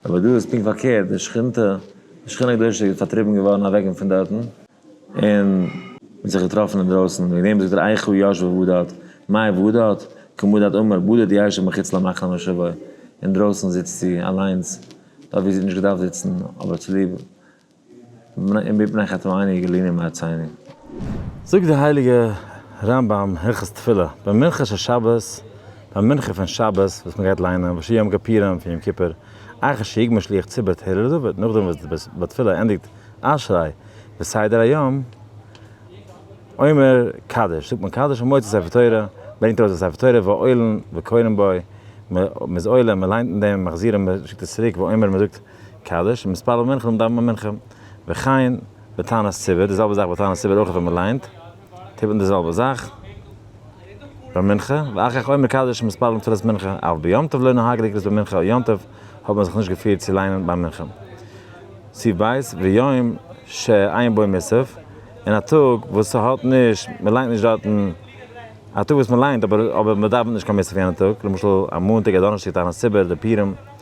אבער דא איז פונקט פארקערט, די שכינתא די שכינה הקדושה איז פארטריבן געווארן אוועק פון דארטן, און זיך געטראפן אינדרויסן, וועגן דעם זאגט ער איכה ישבה בדד, מאי בדד, כמדד אמר בדד ישב מחוץ למחנה מושבו, אינדרויסן זיצט זי אליינס, דארט וואו זי האט נישט געדארפט זיצן, אבער צוליב אם מפני חטא עיני גליני מארציני. זאגט דער
הייליגער רמב ם, הלכות תפילה, ביי מנחה של שבת, ביי מנחה פון שבת וואס מען גייט ליינען, ושיר יום כפירם פון יום כיפור, איכה שיגמור שליח ציבור תהילה לדוד, נאכדעם וואס די בת תפילה ענדיגט, אשרי, בסדר היום, אומר קדיש, זאגט מען קדיש און מוציא ספר תורה, ברענגט ארויס די ספר תורה ועולין וקורין בו, מען איז עולה, מען ליינט אין דעם, מחזירין, מען שיקט עס צוריק, ואומר, מען זאגט קדיש, און מתפלל מנחה דאווענט מען מנחה, וכן בתענית ציבור, די זעלבע זאך בתענית ציבור אויך ווען מען ליינט. טיפן די זעלבע זאך ביי מנחה, ואחר כך עומר קדש מתפללים תפילת מנחה, אף ביום טוב לא נהג לקרות במנחה או יום טוב האט מען זיך נישט געפירט צו ליינען ביי מנחה, סי' ב', ויום ש עיין בו מס', און א טאג וואס ס'האט נישט, מ'ליינט נישט דארטן, א טאג וואס מ'ליינט אבער מ'דאווענט נישט קיין מס' אויף יענע טאג, למשל א מאנטאג א דאנערשטאג תענית ציבור אדער פורים.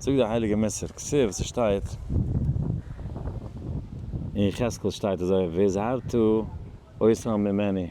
זאגט דער הייליגער מסר כסף ס'שטייט אין יחזקאל שטייט אזוי והזהרתו אתכם ממני.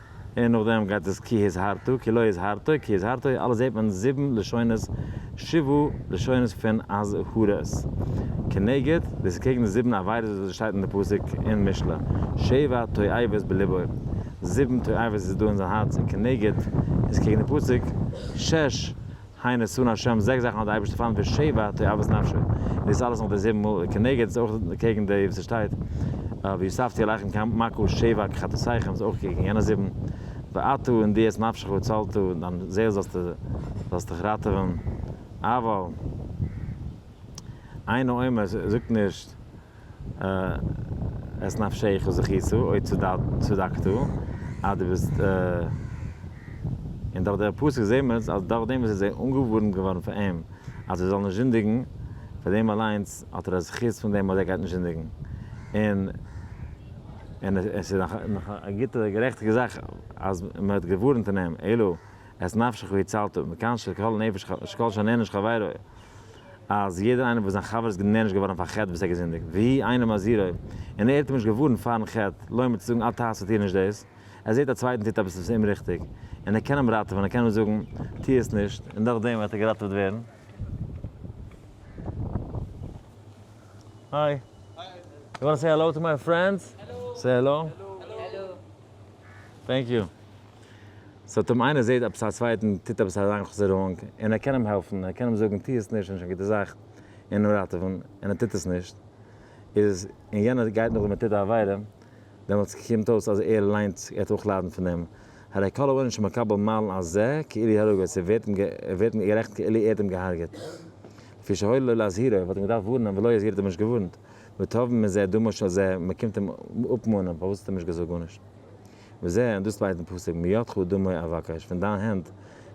און נאכדעם גייט עס כי הזהרתו, כי לא הזהרתו, כי הזהרתו, אלעס זעט מען זיבן לשונות, שבו לשונות פון אזהרות. כנגד, דאס איז קעגן די זיבן עבירות וואס עס שטייט אין די פסוק אין משלי, שבע תועבות בלבו, זיבן תועבות איז דא אין זיין הארץ, און כנגד איז קעגן די פסוק, שש הנה נתן ה' זעקס זאכן האט דער אייבערשטער פארנט ווי שבע תאוות נפשו, און דאס אלעס נאך די זיבן מאל, וכנגד איז אויך קעגן די וואס עס שטייט והוספתי עליכם כמקו שבע כחטאותיכם איז אויך קעגן יענע זיבן, ואתה און דו את נפשך הצלת דיין זעהל זאלסטו זאלסט דיך ראטעווען, אבל אין האומות זאגט נישט את נפשך וזכיתו עוד צדקתו, אז דו ביסט, און דורך דער פסוק זעהט מען אז דורך דעם וואס עס איז אנגעווארנט געווארן פאר אים אז ער זאל נישט זינדיגן, פאר דעם אליינס האט ער א זכות פון דעם אז ער גייט נישט זינדיגן, און און עס איז נאך א גוטע גערעכטיגע זאך אז מען האט געווארנט אין אים, אלא את נפשך והצלתו, מכאן שכל נפש שכל שונא נפש חברו. אז יעדער איינער וואס זיין חבר איז גענערנשט געווארן פאר חטא וואס ער געזינדיגט, והי' אינו מזהירו, און ער איז אים נישט געווארנט פארן חטא, לעומת צו זאגן אל תעשה טו נישט דאס, ער זעט א צווייטן טוט עפעס וואס איז אומריכטיג, און ער קען אים ראטעווען, ער קען אים זאגן טו עס נישט, און דורכדעם וועט ער געראטעוועט ווערן. היי. יו וואנט טו סעי העלאו טו מיי פרענדס? סעי העלאו. טענק יו. עס האט אים איינער זעהט עפעס א צווייטן טוט עפעס א אריינכאסערונג און ער קען אים העלפן ער קען אים זאגן טוה עס נישט און נישט קיין גוטע זאך און אים ראטעווען און ער טוט עס נישט איז און יענער גייט נאך דעם און טוט א עבירה דעמאלטס קומט אויס אז ער ליינט ער האט אויך ליידן פון דעם הרי כל העונש המקבל מעלן על זה כאילו הרגו עס ווערט אים ווערט אים גערעכנט כאילו ער האט אים געהארגעט לפי שהואיל לו להזהירו וואלט אים געדארפט ווארנען ולא הזהיר האט אים נישט געווארנט ותובעים מזה דמו של זה מען קומט אים אפמאנען פארוואס האט ער נישט געזאגט גארנישט. מיר זעען דאס ליידן פסוק מידך דמי אבקש, פון דיין הענט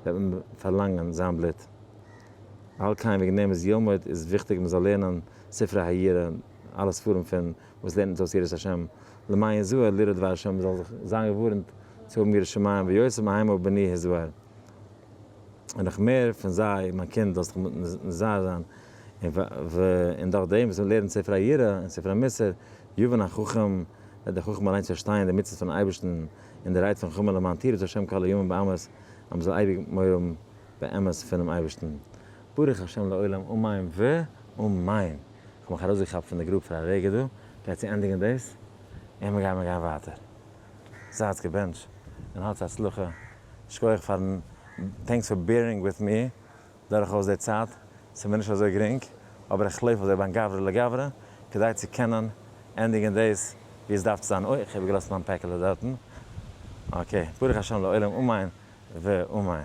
וועט מען פארלאנגען זיין בלוט. על כן וועגן דעם איז יעלמוד איז וויכטיג מען זאל לערנען ספרי היראה, אלע ספרים פון וואס לערנט אונז אויס יראת השם, למעיין זוהר לירא דבר השם, מען זאל זיך זיין געווארנט צו האבן יראת שמים, ויוצא מהימא בני ה' זוהר, און נאך מער פון זיי, מיין קינד זאלסט זיך נזהר זיין, און דורך דעם וואס מען לערנט ספרי היראה און ספרי מוסר יבן החכם, וועט דער חכם אליינס פארשטייען די מצוות פונעם אייבערשטן און די רייד פון חמה למען תרעד השם כל הימים באמת, אז מען זאל אייביג מורם באמת פונעם אייבערשטן. ברוך השם לעולם אמן ואמן! כ'האב מיך ארויסגעכאפט פון די גרוב פאר א רגע דא, כ'גיי צו ענדיגן דאס, און מיר גייען מיר גייען ווייטער. זייטס געבענטש, און האטס הצלחה. שקויעך פארן, טענקס פאר בערינג וויט מי, דורכאויס די צייט, ס'מיר נישט אזוי גרינג, אבער איך לויף אזוי בין גברא לגברא, כדי צו קענען ענדיגן דאס ווי עס דארף צו זיין, אוי, כ'האב געלאזט מיין פעקעלע דארטן, אקעי, ברוך השם לעולם אמן ואמן.